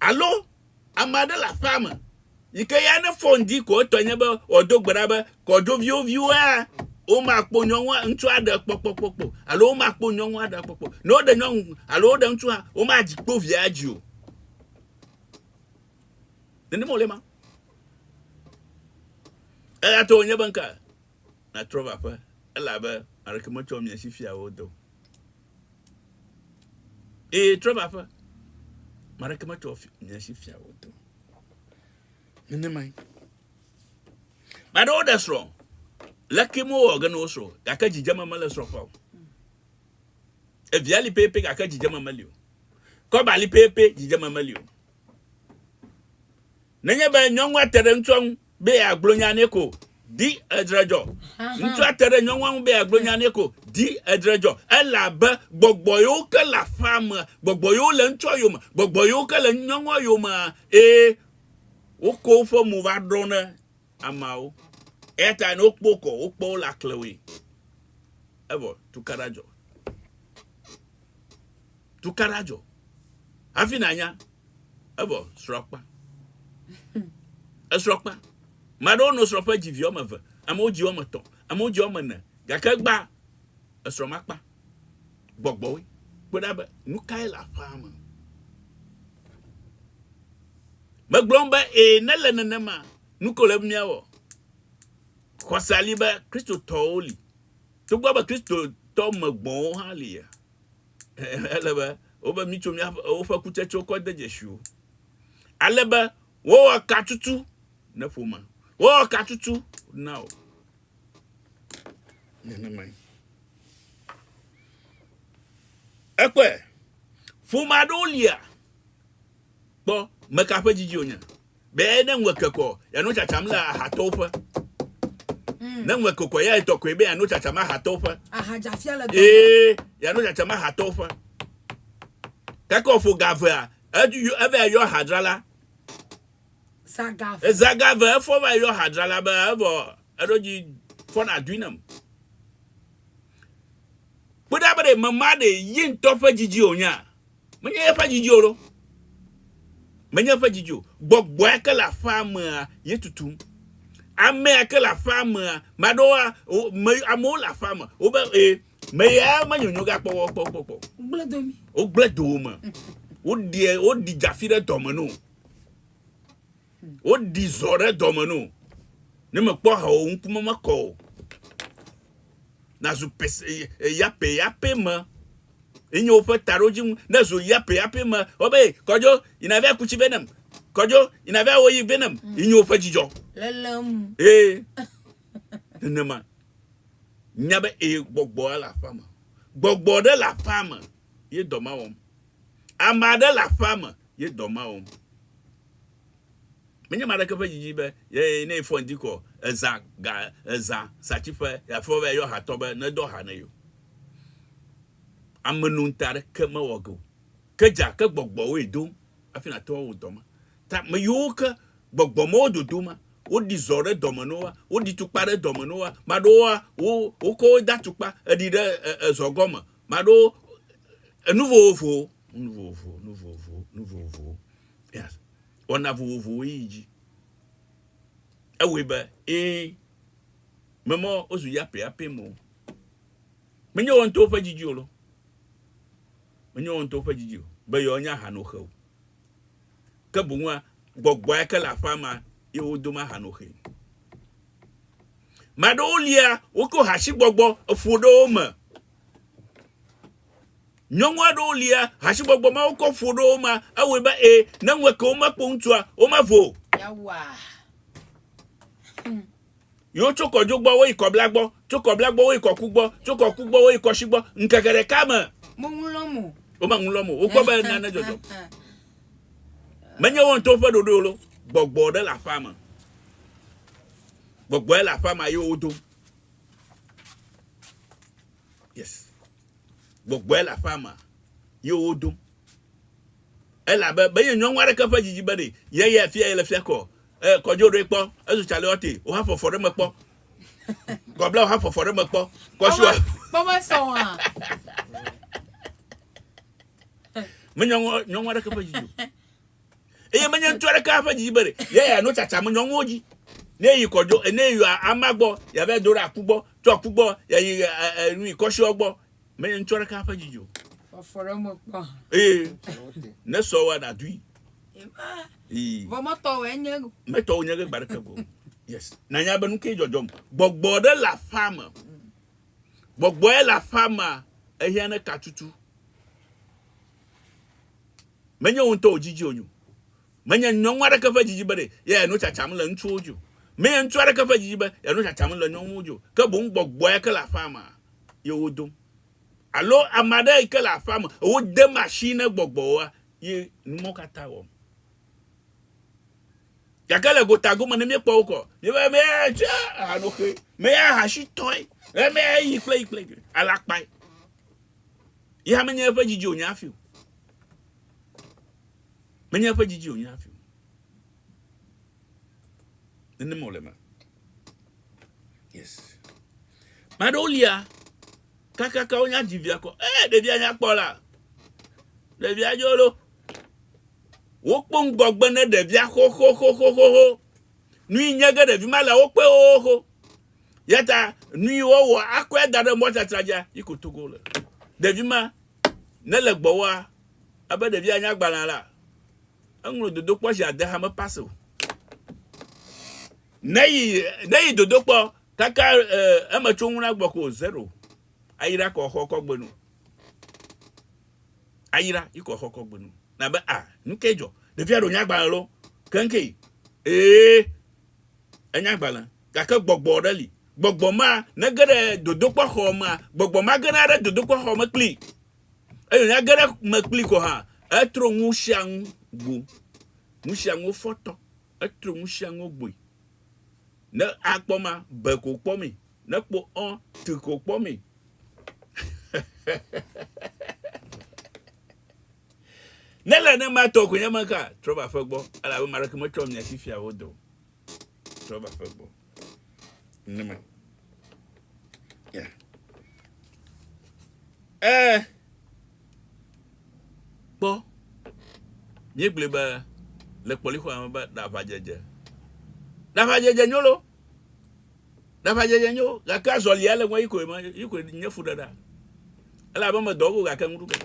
Alo ame aɖe le aƒea me yi ke ya ne fɔn di ko etɔ nye be wòado gbe ɖa be kɔdzoviwo viwoa womakpɔ nyɔnua ŋutsu aɖe kpɔkpɔ kpɔkpɔ alo womakpɔ nyɔnu aɖe kpɔkpɔ. Ne woɖe nyɔnu alo woɖe ŋutsu hã womadzi kpɔ via dzi o. Nenema wòle ma. Eya to wònye be nka natrɔ va ƒe elabe aleke metsɔ mia si fiawo do. Eye trɔ va ƒe. Mareke metsɔ nye si fia wò to. Nenemae. Baɖe woɖe srɔ̃. Leke mowɔ ge ne wosrɔ̃, gake dzidzeme mele srɔ̃ ƒe o. Evia li pɛpɛ gake dzidzeme meli o. Kɔba li pɛpɛ dzidzeme meli o. Nenye be nyɔnua te ɖe ŋutsua ŋu be yeagblɔ nya nɛ ko, di edre dzɔ. Ŋutsua te ɖe nyɔnua ŋu be yeagblɔ nya nɛ ko, di edre dzɔ. Elabe gbɔgbɔ yiwo ke le aƒea mea, gbɔgbɔ yiwo le ŋutsua yome, gbɔgbɔ yiwo ke le nyɔnua yomea, eye wokɔ woƒe mo va ɖɔna ameawo, eya ta ne wokpɔ wo kɔ, wokpɔ wole aklẽwoe. Evɔ tukaɖa dzɔ. Tukaɖa dzɔ. Hafi nànya, evɔ srɔ̃ kpa. Esrɔ̃ kpa. Ame aɖewo nɔ srɔ̃ƒe dzi vi woame eve, amewo dzi woame etɔ̃, amewo dzi woame ene, gake gbã esrɔ̃ makpa. gbɔgbɔwoe. Kpɔe ɖa be nu kae le aƒea me. Megblɔm be ee ne le nenema nu ko le be míawɔ. Xɔsea li be Kristotɔwo li. Togbɔ be Kristotɔ me gbɔwo hã li ya. Ele be wobe mítso míaƒe woƒe kutsetsewo kɔ de dzesi wo. Ale be wowɔ katutu ne ƒome. Wowɔ katutu na wo. nenemae. Ekpɔe, ƒome aɖewo lia kpɔ meka ƒe dzidzi wònye. Be ne ŋue kekɔ, yanɔ tsatsam le ahatɔwo ƒe. Mm. Ne ŋue kekɔ, ya etɔ koe be yanɔ tsatsam ahatɔwo ƒe. Ahadzafia le dɔ. Ee, yanɔ tsatsam ahatɔwo ƒe. Keke wòƒo gavea, edu yɔ- eva yɔ ahadzrala. Zagave. Zagave efɔ va yɔ hadra la be evɔ eɖo dzi fɔ na dui nam. Kpɔ ɖa be ɖe mema ɖe yi ŋutɔ ƒe didi o nya. Menye eƒe didi o ɖo. Menye eƒe didi o. Gbɔgbɔa ke le aƒea mea ye tutum. Amea ke le aƒea mea maɖoa me amewo le aƒea me. Wo be e me ya menyonyo ga kpɔ kpɔ kpɔ kpɔ. Gblẽ do mi. Wo gblẽ do wo me. Wo ɖi wo ɖi dzafi ɖe dɔme no. Woɖi zɔ ɖe dɔme no. Ne mekpɔ ha o ŋkume mekɔ o. Nazu pese yape yape me. Enye woƒe taɖodzi ŋu. Ne zu yape yape me. Wobe kɔdzo yina vɛ kutsi vɛ nam. Kɔdzo yina vɛ wo yi vɛ nam. Mm. Enye woƒe dzidzɔ. Lelem. Ee. Nenema. Nya be ee gbɔgbɔ le aƒea me. Gbɔgbɔ ɖe le aƒea me. Ye dɔ ma wɔm. Ame aɖe le aƒea me. ye dɔ mawom. Menye ame aɖeke ƒe didi be ye ne efɔ ŋdi kɔ ezã ga ezã satsiƒe yeafɔ be yayɔ hatɔ be nedɔ ha ne ye o. Amenonte aɖeke mewɔ ge o. Ke dze ake gbɔgbɔwoe dom hafi nàte ŋu awɔ dɔ ma. Ta ame yiwo ke gbɔgbɔ mawo dodo ma, woɖi zɔ ɖe dɔ me na woa, woɖi tukpa ɖe dɔ me na woa, ame aɖewoa, wo wokɔ wo de atukpa eɖi ɖe ezɔ gɔme Maɖo enu vovovo, nu vovovo, nu vovovo, nu vovovo. Yes. Wɔna vovovowo yi dzi. Ewɔe be ee memɔ wozu yapeyape mo. Menye wɔn to ƒe didi o lo. Menye wɔn to ƒe didi o. Be yewo nya hanoxe o. Ke boŋua gbɔgbɔa ke le aƒea ma ye wodoma hanoxe. Ame aɖewo lia wokɔ hasigbɔgbɔ eƒo ɖe wo me. Nyɔnu aɖewo lia hasigbɔgbɔ ma wokɔ ƒo ɖe wo me ewɔe be e ne ŋu eke womekpɔ ŋutsua womavo. Yawa. Yo tso kɔdzo gbɔ woyi kɔbla gbɔ, tso kɔbla gbɔ woyi kɔku gbɔ, tso kɔku gbɔ woyi kɔsi gbɔ. Ŋkeke ɖeka me. Mo ŋu lɔm o. Wome ŋu lɔm o. Wokpɔ be nane dzɔdzɔm. Menye wo ŋutɔwo ƒe ɖoɖoe lo, gbɔgbɔ ɖe le aƒea me. Gbɔgbɔe le aƒea me ye wodo. Yes. Gbɔgbɔe le aƒea me ye wodo. Elabe menye nyɔnu aɖeke ƒe dzidzi be ɖe ye ya fia ye le fia kɔ. E kɔdzo ɖoe kpɔ, ezu tsaleɔte, woha fɔfɔ ɖe me kpɔ. Kɔbla woha fɔfɔ ɖe me kpɔ. Kɔsua. Kpɔmesɔ wa. Menya nyɔnu aɖeke ƒe dzi o. Eye menye ŋutsu aɖeke ƒe dzi be ye ya no tsatsa me nyɔnuwo dzi. Ne yi kɔdzo, ne yi ama gbɔ, ya va do ɖe aku gbɔ, tso aku gbɔ, ya yi nu yi kɔshiɔ gbɔ. Menye ŋutsu aɖeke ƒe dzi o. Fɔfɔ ɖe me kpɔ. Ee. Ne sɔ wa na dui. Ee. Vɔ mɔtɔ wɔ enye. Mɛtɔ wɔ nye gbe ɖeke go. Yes. Na nya be nu ke jɔjɔm. Gbɔgbɔ ɖe la fa me. Gbɔgbɔe le aƒea mea, ehiã ne ka tutu. Menye wò ŋutɔ wòdzidzi wò nyo. Menye nyɔnu aɖeke ƒe dzidzi bene yeanɔ tsatsam le ŋutsuwo dzi o. Menye ŋutsu aɖeke ƒe dzidzi be yeanɔ tsatsam le nyɔnuwo dzi o. Ke boŋ gbɔgbɔe ke le aƒea mea, ye wodom. Alo ame aɖe yi ke le aƒea me, wodem asii ne gbɔgbɔwoa, ye nu mawo katã wɔm. gake le gotagome ne míekpɔ wo kɔ míebe meya tse ahanoxee meya ahasitɔe meya yi kple yi kple alakpae ya menye eƒe dzidzi wònye hafi o menye eƒe dzidzi wònye hafi o nenema wòle me yes ame aɖewo lia kakaka wonya dzivia kɔ ee eh, ɖevia nyakpɔ la ɖevia dzolo Wokpɔ ŋgɔgbe ne ɖevia xoxoxoxoxo. Nui nye ge ɖevi ma le wo kpe xoxo. Yata nui wo wɔ akɔe da ɖe mɔ tsatra dza yi kotoko le. Ɖevi ma ne le gbɔwoa, ebe ɖevia nya gbalẽa la, eŋlɔ dodokpɔ zi ade hame pase o. Ne yi ne yi dodokpɔ kaka e, eme tso ŋuna gbɔ ko zero. Ayi ɖakɔ xɔ kɔgbe nu. ayra yi kɔ xɔkɔ gbenu. Na be a, nuke jɔ? Ɖevia ɖo nya gbalẽ lo. Kenke yi. Ee, enya gbalẽ. Gake gbɔgbɔ ɖe li. Gbɔgbɔ ma ne ge ɖe dodokpɔ xɔ mea, gbɔgbɔ ma gena ɖe dodokpɔ xɔ me kpli. Eyo nya ge ɖe me kpli kɔ ha. Etro ŋu sia ŋu gbo. Ŋu sia ŋu fɔtɔ. Etro ŋu sia ŋu gboe. Ne akpɔ ma, be ko kpɔ mee. Ne kpo ɔ, ti ko kpɔ mi. ne le ne ma tɔ ko nye ma ka trɔ va ƒe gbɔ ala be mara ke me trɔ mia si fia wo do. Trɔ va ƒe gbɔ. Ne ma. Yeah. Eh. Kpɔ. Mie gblẽ be le kpɔlixo ame be ɖavadzedze. Ɖavadzedze nyolo. Ɖaʋadzedze nyo, gake azɔlia le ŋue yi koe me, yi koe nye fuɖeɖa. Ele abe me dɔ go gake ŋu ɖuge.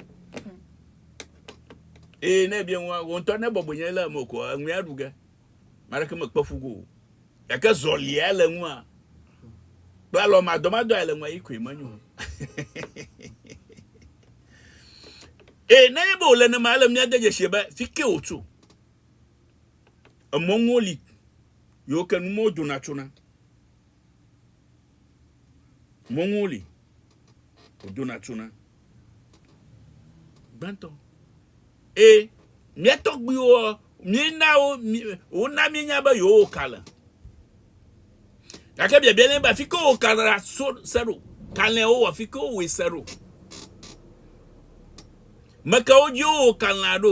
Eye ne ebia ŋua, wò ŋutɔ ne bɔbɔe nye le eme ko, eŋue aɖu ge. Maleke mekpe fu go o. Gake zɔlia le ŋua, kple alɔ madɔmadɔ le ŋua yi koe menyo. Eye nenye be wòle nenema, ele mía de dzesi be fike wòtso. Emɔ nuwo li yiwo ke nu mawo dona tsona. Mɔ nuwo li wodona tsona. Gbãtɔ, e mía tɔgbuiwo míena wo wona míenya be yewowo ka le. Gake biabia nye be afi ke wowɔ ka ɖa so se ɖo. Kalẽa wowɔ afi ke wowɔe se ɖo. Mekawo dzi wowɔ kalẽa ɖo.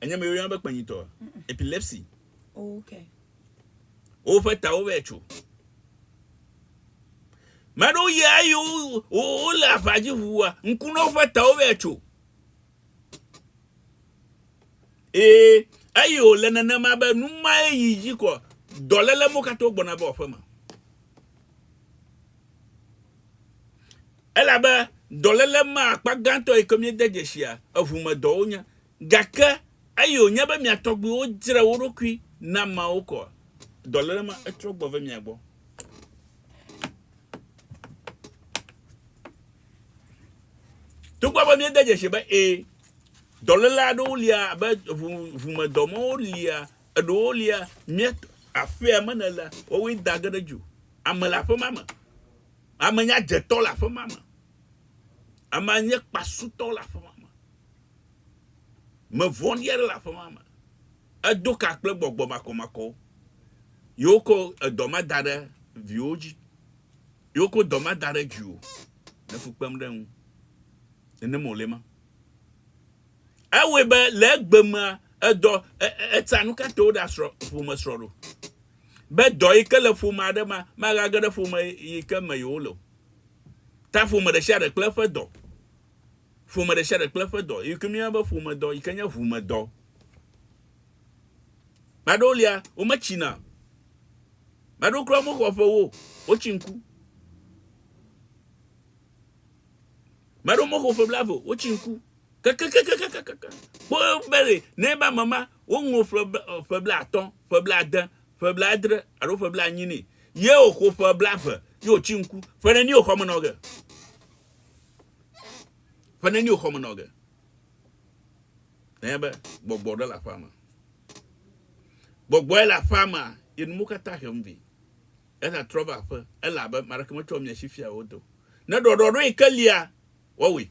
Enye me yɔna be kpenyitɔ, epilepsy. Oh, okay. Woƒe tawo vɛ tso. Mɛ aɖewo yia eye wole aʋa dzi ʋua, ŋku na woƒe tawo vɛ tso. Ee, eye wòle nenema be nu mae yi dzi kɔ dɔléle mo katã gbɔna va aƒeme. Elabe dɔléle ma akpa gãtɔ yi ke míede dzesia eŋu me dɔwo nye. Gake eye wònye be mia tɔgbuiwo dzre wo ɖokui na Mawu koa, dɔléle ma etrɔ gbɔ ve mia gbɔ. Togbɔ be míede dzesi be ẽ, dɔléle aɖewo lia abe ŋu, ŋumedɔ mawo lia, eɖewo lia mía aƒea me nèlea, woawoe da ge ɖe dzi o. Ame le aƒe ma me. Ame nyadzetɔ le aƒe ma me. Ame nye kpasutɔ le aƒe ma me. Me vɔ̃ɖi aɖe le aƒe ma me. Edo ka kple gbɔgbɔ makɔmakɔwo. Ye wokɔ edɔ ma da ɖe viwo dzi. Ye wokɔ dɔ ma da ɖe dziwò le fu kpem ɖe eŋu. Nenem wòle ma. Ewɔe be le egbe mea, edɔ e, e, eta nu ka te woɖe asrɔ̃ ƒome srɔ̃ ɖo. Be dɔ yi ke le ƒome aɖe mea, magage ɖe ƒome yi ke me yewole o. Ta ƒome ɖe sia ɖe kple eƒe dɔ. Ƒome ɖe sia ɖe kple eƒe dɔ. Yi ke míeyɔna be ƒomedɔ, yi ke nye ʋumedɔ. Ame aɖewo lia, wometsina. Ame aɖewo kura mexɔ ƒe wo, wotsi ŋku. Ame aɖewo mexɔ ƒe blaeve, wotsi ŋku. Kakakakakakaka. Kpɔ be ɖe ne ebe ame ma woŋlɔ ƒe ƒe blaatɔ̃, ƒe blaade, ƒe blaadre alo ƒe blaenyi nɛ ye wòxɔ ƒe blaeve ye wòtsi ŋku. Ƒe neni wòxɔ me nɔ ge? Ƒe neni wòxɔ me nɔ ge? Nenye be gbɔgbɔ ɖe le aƒea me. Gbɔgbɔe le aƒea me ye nu katã hem vi. Eza trɔ va aƒe ele abe maɖeke metsɔ mia si fia wodo. Ne ɖɔɖɔɖo yi ke lia Wɔwɔe.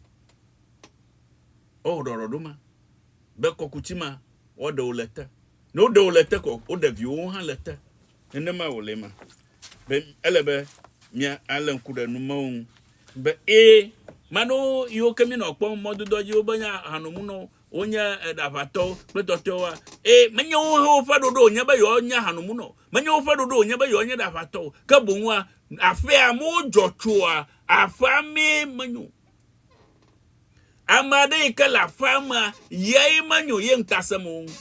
Wɔwɔ ɖɔɖɔɖo ma be kɔkuti ma woaɖe wò le te. Ne woɖe wò le te ko woɖe viwòwo hã le te. Nenema wòle ema be ele be mía alé ŋku ɖe nu mawo ŋu be ee, mano yiwo ke míenɔ kpɔm mɔdodoa dzi wobe nye ahanomunɔwo, wonye eɖaʋatɔwo kple tɔtɔewoa? Ee, menye wowo hã woƒe ɖoɖo wònye be yewoanye ahanomunɔ o. Menye woƒe ɖoɖo wònye be yewoanye ɖe aʋatɔ o, ke boŋ woa, aƒea amewo dzɔ tsoa aƒea mee menyo. Ame aɖe yi ke le aƒea mea, yae menyo ye ŋutasemewo ŋu.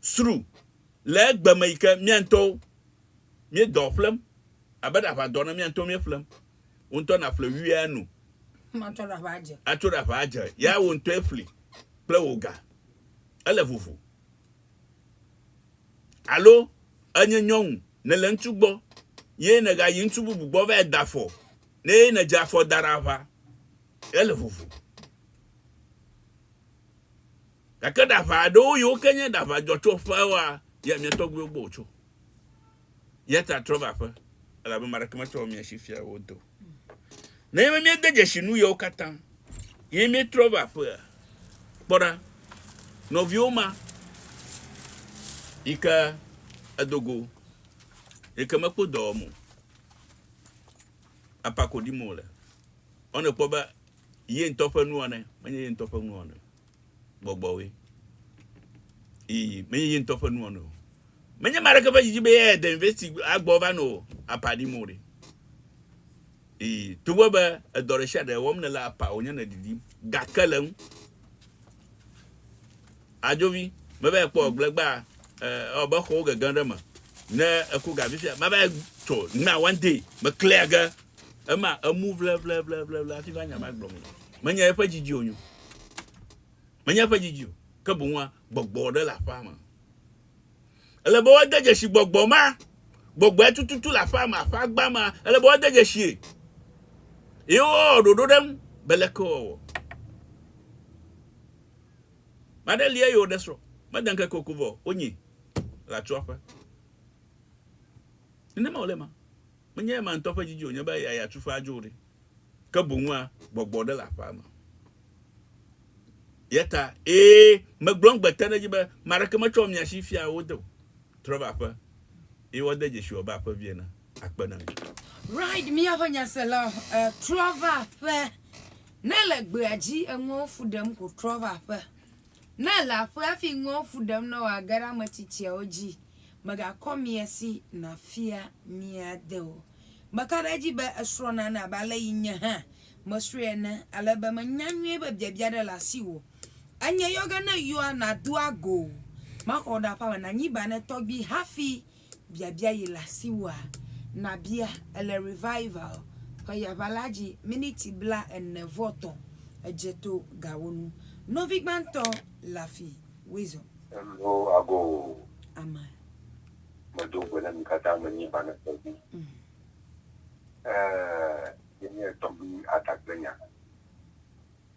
Sru, le egbe me yi ke mía ŋutɔwo míedɔ ƒlem abe ɖe aʋadɔ ene, mía ŋutɔwo míeƒlem. Wò ŋutɔ nàƒle wuiea nu. Matso ɖe aʋa adze. Atso ɖe aʋa adze. Ya wò ŋutɔe ƒli kple wò ga. Ele vovo. Alo ènye nyɔnu, nèle ŋutsu gbɔ, ye nègayi ŋutsu bubu gbɔ va yi da afɔ nɛ eye nèdze afɔ da ɖe aʋa. Ele vovo. Gake ɖaʋa aɖewo yiwo ke nye ɖaʋa dzɔtsoƒewoa, yia mia tɔgbuiwo gbɔ wòtso. Eya ta trɔ va aƒe, elabe ame aɖeke metsɔ mia si fia wò do. Nenye be míede dzesi nu yewo katã ye míetrɔ va aƒea, kpɔ ɖa, nɔviwo ma yi ke edo go, yi ke mekpɔ dɔ wɔm o, apa koɖim wòle, ɔ nèkpɔ be ye ŋutɔ ƒe nuwɔnae menye ye ŋutɔ ƒe nuwɔnae o. gbɔgbɔwoe. Ii, menye ye ŋutɔ ƒe nuwɔnae o. Menye ame aɖeke ƒe didi be eyae de university agbɔ va nɔ apa ɖim o ɖe. Ii, togbɔ be edɔ ɖe sia ɖe wɔm nèle apa wònye nèɖiɖim, gake le ŋu. Adzovi, meva ekpɔ gblẽ gbaa, ewɔ be xɔwo gege ɖe me. Ne eku ga vifia, mava tsɔ, nima one day, meklia ge. Ema emu vlevlevlevle hafi va nya ma gblɔm. Menye eƒe dzidzi o nyo. Menye eƒe dzidzi o. Ke boŋ gbɔgbɔ ɖe le aƒea me. Ele be woade dzesi gbɔgbɔ ma. Gbɔgbɔe tututu le aƒea me, aƒea gba ma. Ele be woade dzesi. Ye wowɔ ɖoɖo ɖe ŋu be leke wɔwɔ. Maɖe lia yi woɖe srɔ̃. Mede ŋkeke ko vɔ wonyi le atsoaƒe. Nenema wòle ma. Menye ema ŋutɔ ƒe didi wònye be eya ya tu ƒe adzo ɖi, ke boŋ wua gbɔgbɔ aɖe le aƒea me. Eya ta, ee, megblɔm gbe te ɖe edzi be, ame aɖeke metsɔ mia si fia wo de o. Trɔ va aƒe, eye woade dzesi wò abe aƒevi ene. Akpe na mi. Reid, Míaƒe nyasela trɔ va aƒe. Ne le gbea dzi enuawo fu ɖem ko trɔ va aƒe, Ne èle aƒe hafi ŋewo fu ɖem ne wòage ɖe ame tsitsiawo dzi, mègakɔ mia si nàfia mia de o. Meka ɖe edzi be èsrɔ̃ nane abe ale si nye hã mesrɔ̃e ene, ale be menya nyuie be biabia aɖe le asiwò. Enye yɔ ge ne yɔa, nàdo ago. Maxɔ wò ɖe aƒea me nànyi banɛ tɔgbi hafi biabia yi le asiwòa? Nàbia le Revival ƒe yaʋa la dzi miniti blaene vɔ tɔ̃ edze to gawo nu. Nɔvi gbãtɔ le afi Weasel. Eŋlo ago o. Amen. Medo gbe na mi katã be nye ba nese vi. Eee, nye nye tɔgbi Ada kple nya.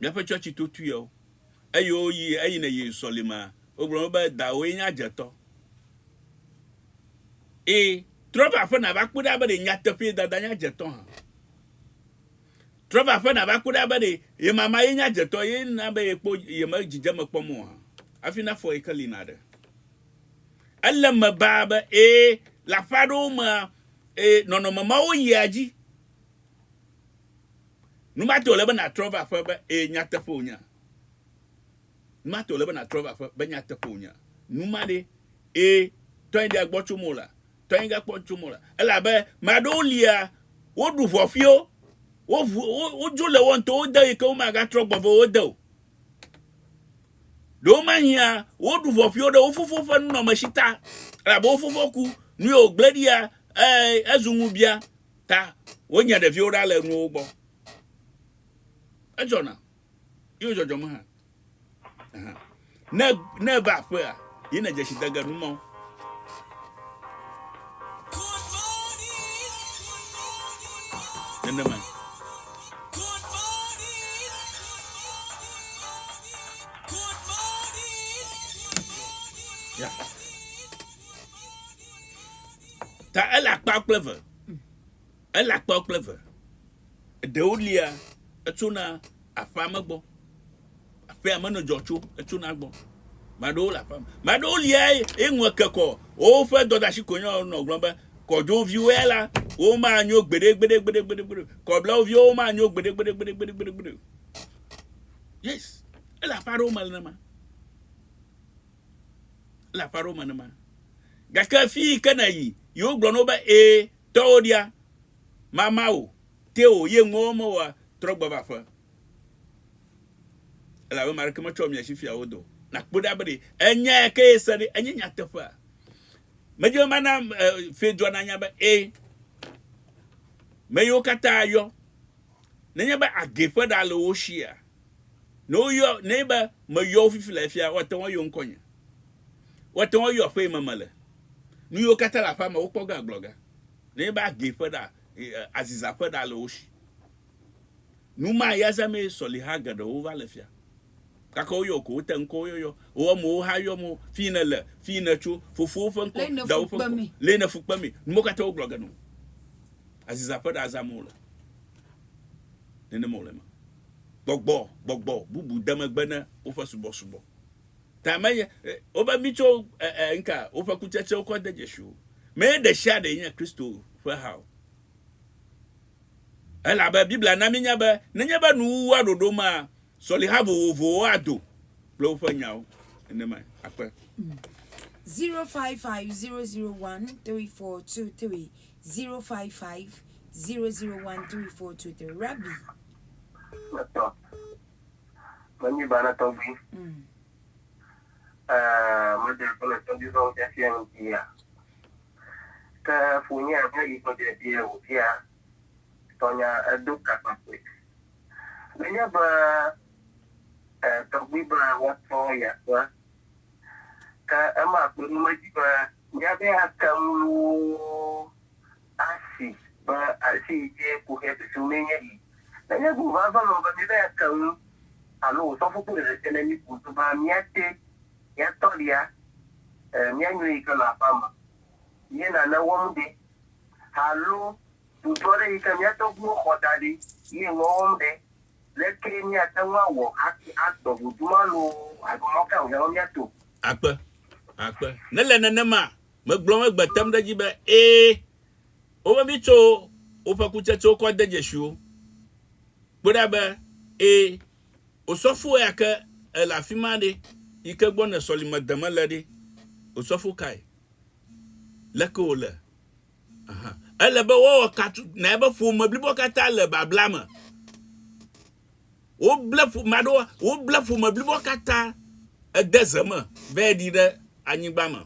Míaƒe tsɔtsi to tuiawo. Eye woyi eyi ne yi sɔlimea, wogblɔ na wo be, Dawòe nye adzetɔ. Ẽ, trɔ va aƒe nàva kpɔe ɖa be ɖe nyateƒee dada nye adzetɔ hã. Trɔ va aƒe nàva kpɔe ɖa be ɖe ye mama ye nye adzetɔ ye na be yekpɔ yeme dzidzeme kpɔm o hã. Hafi nafɔ ye keli naɖe. Ele eme baa be, ẽ, le aƒe aɖewo mea, ẽ, nɔnɔme mawo yia edzi. Nu ma tae wòle be nàtrɔ va aƒe be, Ee, nyateƒe wònye. Nu ma tae wòle be nàtrɔ va aƒe be, Nyateƒe wònye. Nu ma ɖe, ee, tɔnye ɖea gbɔ tso mewò la, tɔnye gakpɔ tso mewò la. Ele abe ame aɖewo lia, woɖu ʋɔƒiwo, woʋu, wodzo le wo ŋutɔwo de yi ke womagatrɔ gbɔ vɛ wo de o. Ɖewomahiã woɖu ʋɔƒiwo ɖe wo fofo ƒe nunɔamesi ta, elabe wo fofo ku, nu ye wògblẽ ɖia, ee, ezu ŋubiã. Ta wonyea ɖeviwo ɖa le nuwo gbɔ. Edzɔna. Yo dzɔdzɔ me hã. Aha. Ne ne eva aƒea, yi ne dzesi de ge nu mawo. Nenema. Yeah. Ta ele akpa kple eve. Ele akpa kple eve. Ɖewo lia etsona aƒea me gbɔ. Aƒea me ne dzɔ tso etsona gbɔ. Maɖewo le aƒea me. Maɖewo lia eŋu eke kɔ. Woƒe dɔdasi ko nyawo nɔ gblɔm be kɔdzoviwo ya la womanyo gbeɖe gbeɖe gbeɖe gbeɖe gbeɖe. Kɔblawo viwo womanyo gbeɖe gbeɖe gbeɖe gbeɖe gbeɖe gbeɖe. Yes. Ele aƒe aɖewo me nenema. Ele aƒe aɖewo me nenema. Gake fii ke nèyi, yewo gblɔ na wo be, Ẽ, tɔwo ɖia, mama wò, te wò, ye ŋuwo me wòa, trɔ gbɔ va aƒe. Elabe ame aɖeke metsɔ mia si fia wo do. Nàkpɔe ɖa be ɖe enya ya kee se ɖe enye nyateƒea. Medi be mana fiedua nanya be, ẽ, meyiwo katã yɔ, nenye be agee ƒe ɖa le wo sia, Ne woyɔ ne be meyɔ wo fifi le afia, woate ŋu ayɔ ŋkɔnye. Woate ŋu ayɔ aƒe yi me mele. Nu yiwo katã le aƒea me, wokpɔ ge agblɔ ge. Nenye be agee ƒe ɖa, aziza ƒe ɖa le wo si. Nu ma ya zamee sɔliha geɖewo va le fia. Gake woyɔ wò ko, wote ŋkɔwò yɔyɔ. Wò amewo hã yɔm wò, fi yi nèle, fi yi nètso, fofowò ƒe ŋkɔ, dawò ƒe ŋkɔ, le yi ne fu kpe mee. Nu mawo katã wogblɔ ge nɔ wò. Aziza ƒe ɖa zam wole. Nenema wòle eme. gbɔgbɔ gbɔgbɔ bubu de megbe ne woƒe subɔsubɔ ta me ye wobe mi tso nka woƒe kutsetsewo kɔ de dzesi wo me ye ɖe sia ɖe nye Kristo ƒe ha o. Elabe Biblia na mínya be nenye be nuwuwua ɖoɖo ma sɔliha vovovowo ado kple woƒe nyawo nenemae. Akpe. 0550013423 Zero five five zero zero one three four two three. Rabbi. Mètɔ. Menyi bana tɔgbi. Mm. Eh, mede kple tɔgbi zɔn fiafia nu bia. Ke funye abe yi kɔdze bia wò bia. Tɔnya edo kakpakpe. Menye be eh, tɔgbi be woatɔ ya kpɔa. Ke ema kpɔe ɖo edzi be míaƒe atenuwo asi be asi yi dzi ku xe susu mee nye yi. Nenye bu vava me be míaƒe atenu alo wòsɔ fukpui ɖeɖe te ɖe mí ko so be míate míatɔ ɖia, e, míanyrɔ yi ke le aƒea me ye nane wɔm ɖe, alo dudɔ ɖe yi ke mía tɔgbuiwo xɔ da ɖi ye ŋua wɔm ɖe. Leke míate ŋu awɔ hafi akpɔ ʋudu ma loo alo mɔ kae wòhiã be míato? Akpe, akpe. Ne le nenema, megblɔm egbe tem ɖe edzi be, ẽ, wobe mitso woƒe kutsetsewo kɔ de dzesiwo. Kpɔe ɖa be, ẽ, osɔfo ya ke ele afi ma ɖe, yi ke gbɔ nèsɔlimedeme le ɖe? Osɔfo kae? Leke wòle? Ele be woawɔ ka tutuna be ƒome blibo katã le babla me. Woble ƒome aɖewo, woble ƒome blibo katã ede ze me be ɖi ɖe anyigba me.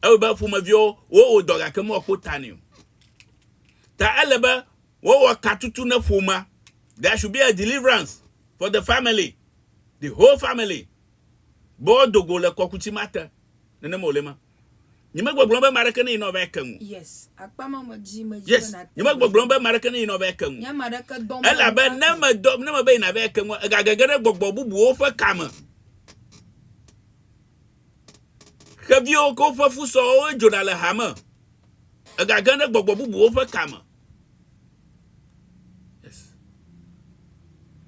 Ewɔ be ƒomeviwo wowɔ dɔ gake mewɔkpɔ ta nɛ o. Ta ele be wowɔ ka tutu ne ƒomea. There should be a deliverance for the family, the whole family. Bo dogo le kɔkuti mate. Nenema wòle ma. Nyemegbɔgblɔm be ame aɖeke neyina wòava eke ŋu. Yes, akpa ma me dzi medzi Yes, be nàte ŋu. nyemegbɔgblɔm be ame aɖeke neyina wòava eke ŋu. Nye ame aɖeke dɔm be Elabe ne nàva eke. medɔ, ne mebe yi nàva eke ŋua, ègagege ɖe gbɔgbɔ bubuwo ƒe ka me. Xeviwo kple woƒe fusɔwo dzona le hame. Ègage ɖe gbɔgbɔ bubuwo ƒe ka me.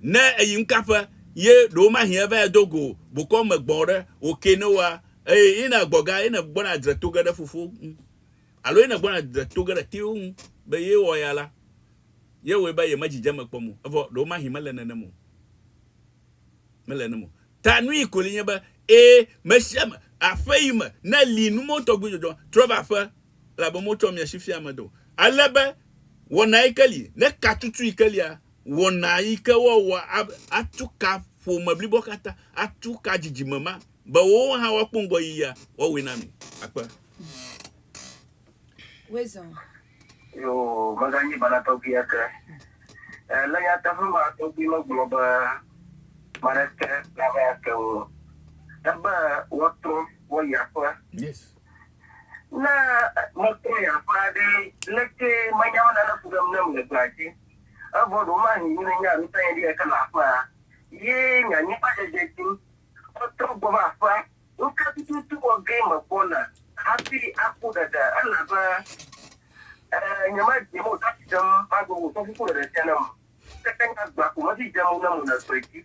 ne eyi ŋkaƒe ye ɖewo ma hiã va do go bokɔ me gbɔ ɖe o ke ne wa eye ina gbɔ ga ina gbɔ na dre to ge ɖe fofo alo ina gbɔ na dre to ge ɖe tewo ŋu be ye wɔ ya la ye wɔ be ye me dzidze me kpɔ mo evɔ ɖewo ma hi me le nene mo me le nene mo ta nui ko li nye be e me sia me aƒe yi me ne li nu mo tɔgbi dzɔdzɔ trɔ va aƒe elabe motsɔ mia si fia ame aɖe o. Ale be wɔna yi ke li, ne ka tutu yi ke lia, wɔna yi ke woawɔ atu ka ƒome blibo katã, atu ka dzidzime ma, be wowo hã woakpɔ ŋgɔyiyia, woawɔe na mi. Akpe. Yoo, meganyi bala tɔgbi eke. Ẽ, le nyateƒe ma tɔgbi megblɔ be ame aɖeke nava eke ŋu o. Ebe woatrɔ woayi aƒe. Yes. Ne mekpɔe aƒe aɖee, leke menyawo nane fu ɖem nam le gbea dzi? Evɔ ɖewomahi yi nenye anuta nye ɖee ke le aƒea, ye nye anyigbadzedze dim. Metrɔ gbɔ va aƒea. Nu ka tututu wɔ gee megbɔna hafi aku ɖeɖe? Elabe, e, nyemedze mo ɖa si ɖem magblɔ wò fɔkuku ɖeɖe sia nam o. Ke nya gbã ko medi dze mo nam o le gbedzi.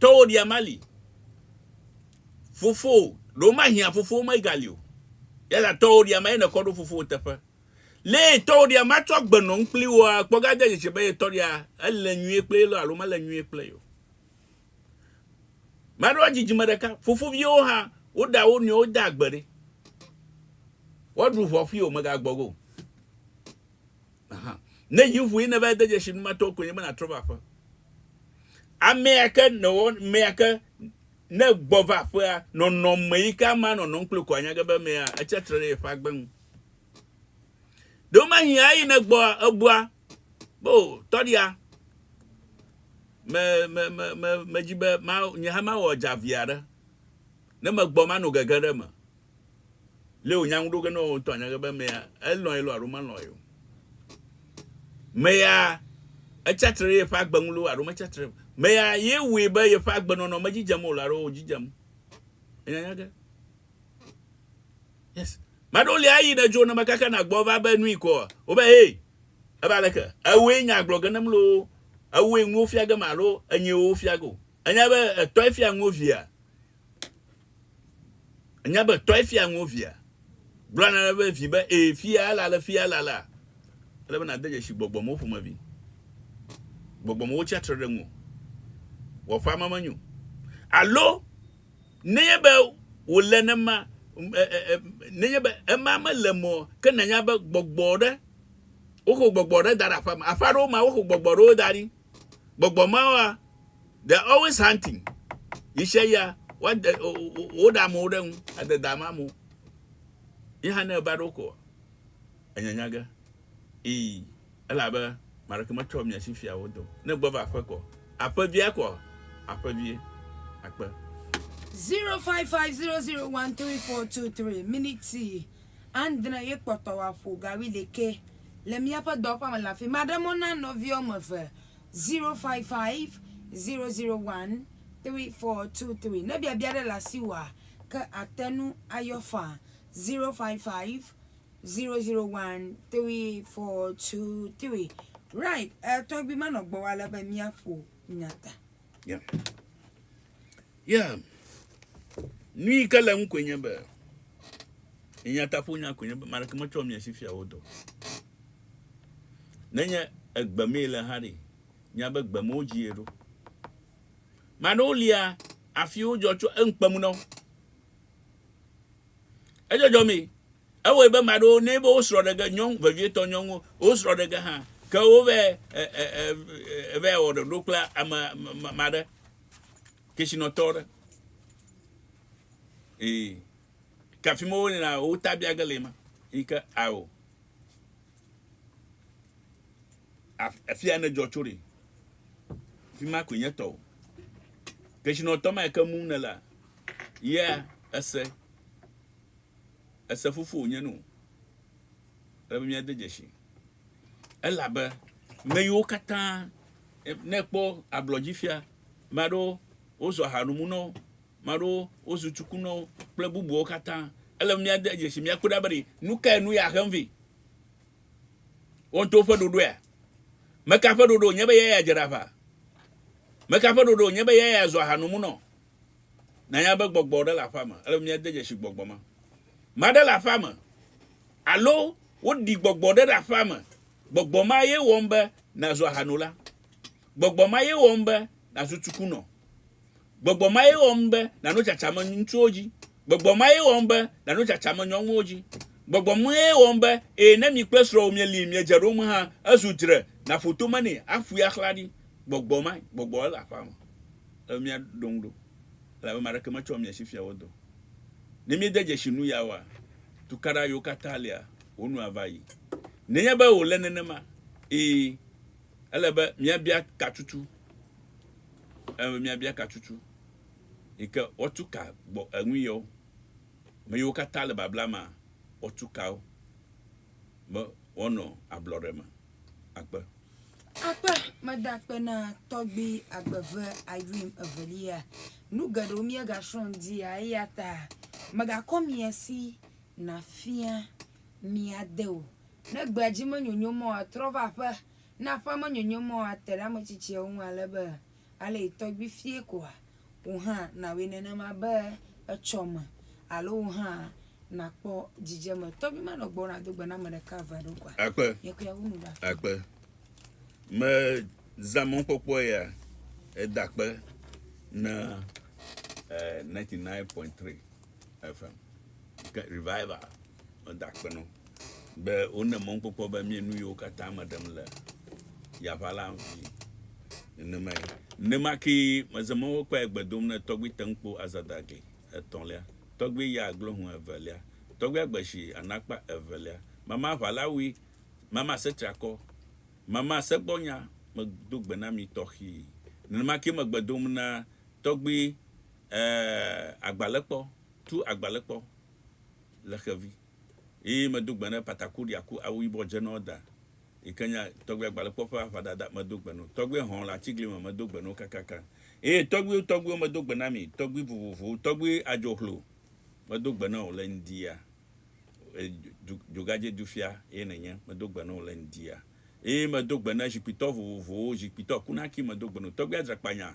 Tɔwò ɖia mali. Fofowò, ɖe womahiã fofowò megali o. Yata tɔwò ɖia ma ye nèkɔ ɖo fofowò teƒe. Lé tɔwò ɖia matsɔ agbe nɔ nu kpli woa, kpɔ ga de dzesi be ye tɔ ɖia ele nyuie kple ye lɔ alo mele nyuie kple ye o. Maɖewo dzidzime ɖeka, fofoviwo hã, woɖa wo nɔewo de agbe ɖi. Woaɖu ʋɔfui o, mègagbɔgo o. Aha. Ne yi ŋue nèva de dzesi nu ma tɔwo koe nye be nàtrɔ va aƒe. Amea ke nèwɔ mea ke ne gbɔ va aƒea, nɔnɔme yi ke amea nɔnɔm kple ko anya ge be mea etsia tre ɖe yeƒe agbe ŋu. Ɖewo mahi eyi ne gbɔ ebua be o tɔɖia me me me me me dzi be ma nye hã mawɔ dzavi aɖe ne megbɔ mano gege ɖe me Lé wònya ŋu ɖo ge ne wòtɔ anya ge be meya elɔ̃e loo alo melɔ̃e o. Meya etsia tre ɖe yeƒe agbe ŋu loo alo metsia tre o. Meya ye wɔe be yeƒe agbenɔnɔ medzidzem o loo alo wòdzidzem. Enya nya ge. Yes. Ame aɖewo li ayi ne dzo ne mekaka na gbɔ va be nui koa, wobe hey, ebe aleke? Ewɔe nya gblɔ ge nem loo, ewɔe nuwo fia gem alo enyee wofia ge o. Enya be etɔe fia nuwo via, Ènya be tɔe fia ŋuwò via? Gblɔ na eƒe vi be, Ee, fia la le fia la la. Ele be nàde dzesi gbɔgbɔmewo ƒomevi. Gbɔgbɔmewo tsia tre ɖe ŋuwò. Wò aƒea me menyo. Alo nenye be wòle nema, nenye be ema mele me o, ke nànya be gbɔgbɔ ɖe, woxɔ gbɔgbɔ ɖe da ɖe aƒea me. Aƒe aɖewo mea, woxɔ gbɔgbɔ ɖewo da ɖi. Gbɔgbɔ mawoa, they are always hunting. Ɣeshiaɣia woade woɖe amewo ɖe ŋu, ade da ame amewo. Ye hã ne eva ɖe wo kɔ, enyanya ge. Ii, elabe maɖeke metsɔ mia si fia wo do. Ne gbɔ va aƒe kɔ, aƒevia kɔ aƒevie akpe. Zero five five zero zero one three four two three, Miniti Andre ye kpɔtɔ wòaƒo gawi ɖekɛ le míaƒe dɔwɔƒea me le afii. Maɖe mɔ na nɔvi woame eve, 0550013423. Ne biabia aɖe le asiwòa, ke àte ŋu ayɔ faa, 0550013423. Right, eh, tɔgbui manɔ gbɔwò ale be míaƒo nya ta. Yeah. Yeah. Nu yi ke le ŋu koe nye be nya ta ƒo nya koe nye be ame aɖeke metsɔ mia si fia wo dɔ. Nenye egbe mee le hã ɖi. Nya be gbe mewo dzi eɖo. Maɖewo lia afiwo dzɔ tso eŋkpe mu na wo. Edzɔdzɔ mi. Ewɔe be ame aɖewo ne be wosrɔ̃ ɖe ge nyɔnu vevietɔ nyɔnuwo wosrɔ̃ ɖe ge hã ke wova va wɔ ɖoɖo kple ame ame aɖe kesinɔtɔ aɖe. Ee. Ke afi ma wonɔna wotabia ge le ma. Yi ke ao. Afia ne dzɔ tso ɖi. Fi ma koe nye tɔwò. Kesinɔtɔ ma yi ke mum nèlea Yeah ese. Ese fofowò nye nu. Ele be míade dzesi. Elabe meyiwo katã ne ekpɔ ablɔ dzi fia, me aɖewo wozu ahaɖumunɔwo, me aɖewo wozu tsukunɔwo kple bubuawo katã. Ele be míade dzesi míakpɔe ɖa be ɖe nu kae nu ya hem vɛ. Woato woƒe ɖoɖoea? Meka ƒe ɖoɖo wònye be eyae adze ɖe aʋa? Meka ƒe ɖoɖo wònye be eyae azu ahaɖumunɔ? Nànya be gbɔgbɔ ɖe le aƒea me. Ele be míade dzesi gbɔgbɔ ma. Maɖe le aƒea me. Alo woɖi gbɔgbɔ ɖe ɖe aƒea me. Gbɔgbɔ ma ye wɔm be nàzu ahanola. Gbɔgbɔ ma ye wɔm be nàzu tsukunɔ. Gbɔgbɔ ma ye wɔm be nàno tsatsame ŋutsuwo dzi. Gbɔgbɔ ma ye wɔm be nàno tsatsame nyɔnuwo dzi. Gbɔgbɔ ma ye wɔm be eye ne mi kple srɔ̃wò mieli, miedze ɖom hã, ezu dzre, nàƒo tome nɛ, aƒoe axla ɖi. Gbɔgbɔ mae. Gbɔgbɔ ele aƒea me. Ẽ, miaɖo ŋu ɖo, elabe ame aɖeke metsɔa mia si fiaa wo dɔ o. Ne miede dzesi nu ya oa, tukaɖa yiwo katã lia, wo nu ava ayi. Nenye be wòle nenema, ii, ele be miabia ka tutu, ele be miabia ka tutu, yi ke woatu ka gbɔ eŋui yewo. Ame yiwo katã le babla mea, woatu ka wo, be woanɔ ablɔɖe me. akpe. Akpe meda akpe na tɔgbi agbeve Irene Evelia. Nu geɖewo míegasrɔ̃ ŋdia eya ta megakɔ mia si nafia mia de o. Ne gbea dzi menyonyo mɔ atrɔ va aƒe, ne aƒea menyonyo mɔ ate ɖe ame tsitsiawo ŋu ale be Ale yi tɔgbui fie koa? Wò hã nàwɔe nenema be etsɔ me alo wò hã nàkpɔ dzidzeme. Tɔgbui ma nɔ gbɔwò nàdo gbe na ame ɖeka eve aɖewo koa? Akpe. Nye kple yeawo nu ɖe afia. Akpe. Mezã mɔkpɔkpɔ ya eda akpe na eh, 99.3 FM. Ke revival. Meda akpe na wo be wone mɔnukpɔkpɔ be mie nu yiwo katã me ɖem le yaʋa la ŋvi nenemae. Nenema kee meze mɔ wo kpɔe gbe dom ne tɔgbui te ŋkpo azada gli etɔ̃lia, tɔgbui ya aglo hũ evelia, tɔgbui agbe shi anakpa evelia, mama aʋa la wui, mama ase triakɔ, mama ase gbɔ nya me do gbe na mi tɔxii. Nenema kee megbe dom na tɔgbui eh, agbalẽkpɔ, tu agbalẽkpɔ. le xevi eye medo gbe ne Pataku ɖi aku awu yibɔ dze nɔ da yi ke nye tɔgbui agbalẽkpɔ ƒe aʋadada medo gbe no tɔgbui hɔ̃ le atigli me medo gbe no kakaka eye tɔgbuiwo tɔgbuiwo medo gbe na mi tɔgbui vovovowo tɔgbui adzohlo medo gbe nɔ wò le ŋdia e dzogadze dufia ye nènye medo gbe nɔ wò le ŋdia eye medo gbe ne zikpuitɔ vovovowo zikpuitɔ kunaki medo gbe no tɔgbui adzrakpanya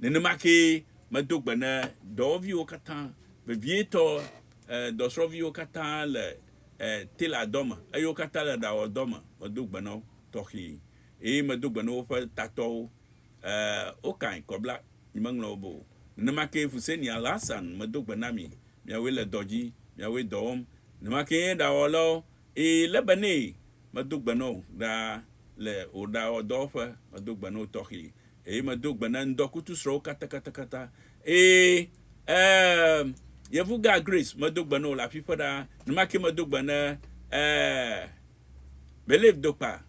Nenema kee medo gbe na dɔwɔviwo katã, vevietɔ dɔsrɔ̃viwo katã le teladɔ me, eye wo katã le ɖawɔdɔ me, medo gbe na wo tɔxɛe, eye medo gbe na woƒe tatɔwo, Okan, Kɔbla, nyemeŋlɔ wo be o, nenema kee Fuseni Alhassan, medo gbe na mi, miawoe le dɔ dzi, miawoe dɔ wɔm, nenema kee nye ɖawɔlawo, ee, Lebanee, medo gbe na wò ɖaa, le wò ɖawɔdɔwɔƒe, medo gbe na wò tɔxɛe, Eye medo gbe na ŋdɔkutu srɔ̃wo katakatakata. Ee, ee, Yevugã Grace, medo gbe na wò le afiƒe ɖaa. Nenema kee medo gbe na, ee, Believe Dokpa,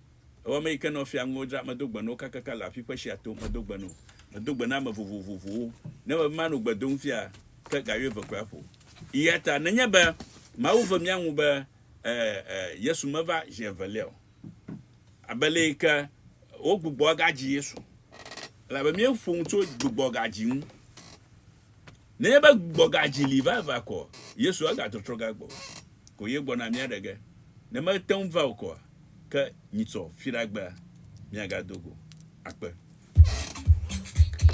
ewɔame yi ke nɔ fia ŋuwo dzram. Medo gbe na wo kakaka le afiƒe sia to. Medo gbe na wò. Medo gbe na ame vovovovowo. Ne mebe mano gbe dom fia, ke ga wuieve koe aƒo. Eyata nenye be Mawu ve mía ŋu be, ee, ee, Yesu meva zi evelia o. Abe le yi ke wogbugbɔ gadzi Yesu. Elabe míeƒo nu tso gbugbɔ gadzi ŋu. Nenye be gbugbɔ gadzi li vavã ko Yesu egatrɔtrɔ gagbɔ o. Ko ye gbɔna míaɖe ge. Ne mete ŋu va o koa, ke nyitsɔ fiɖagbea míagado go. Akpe.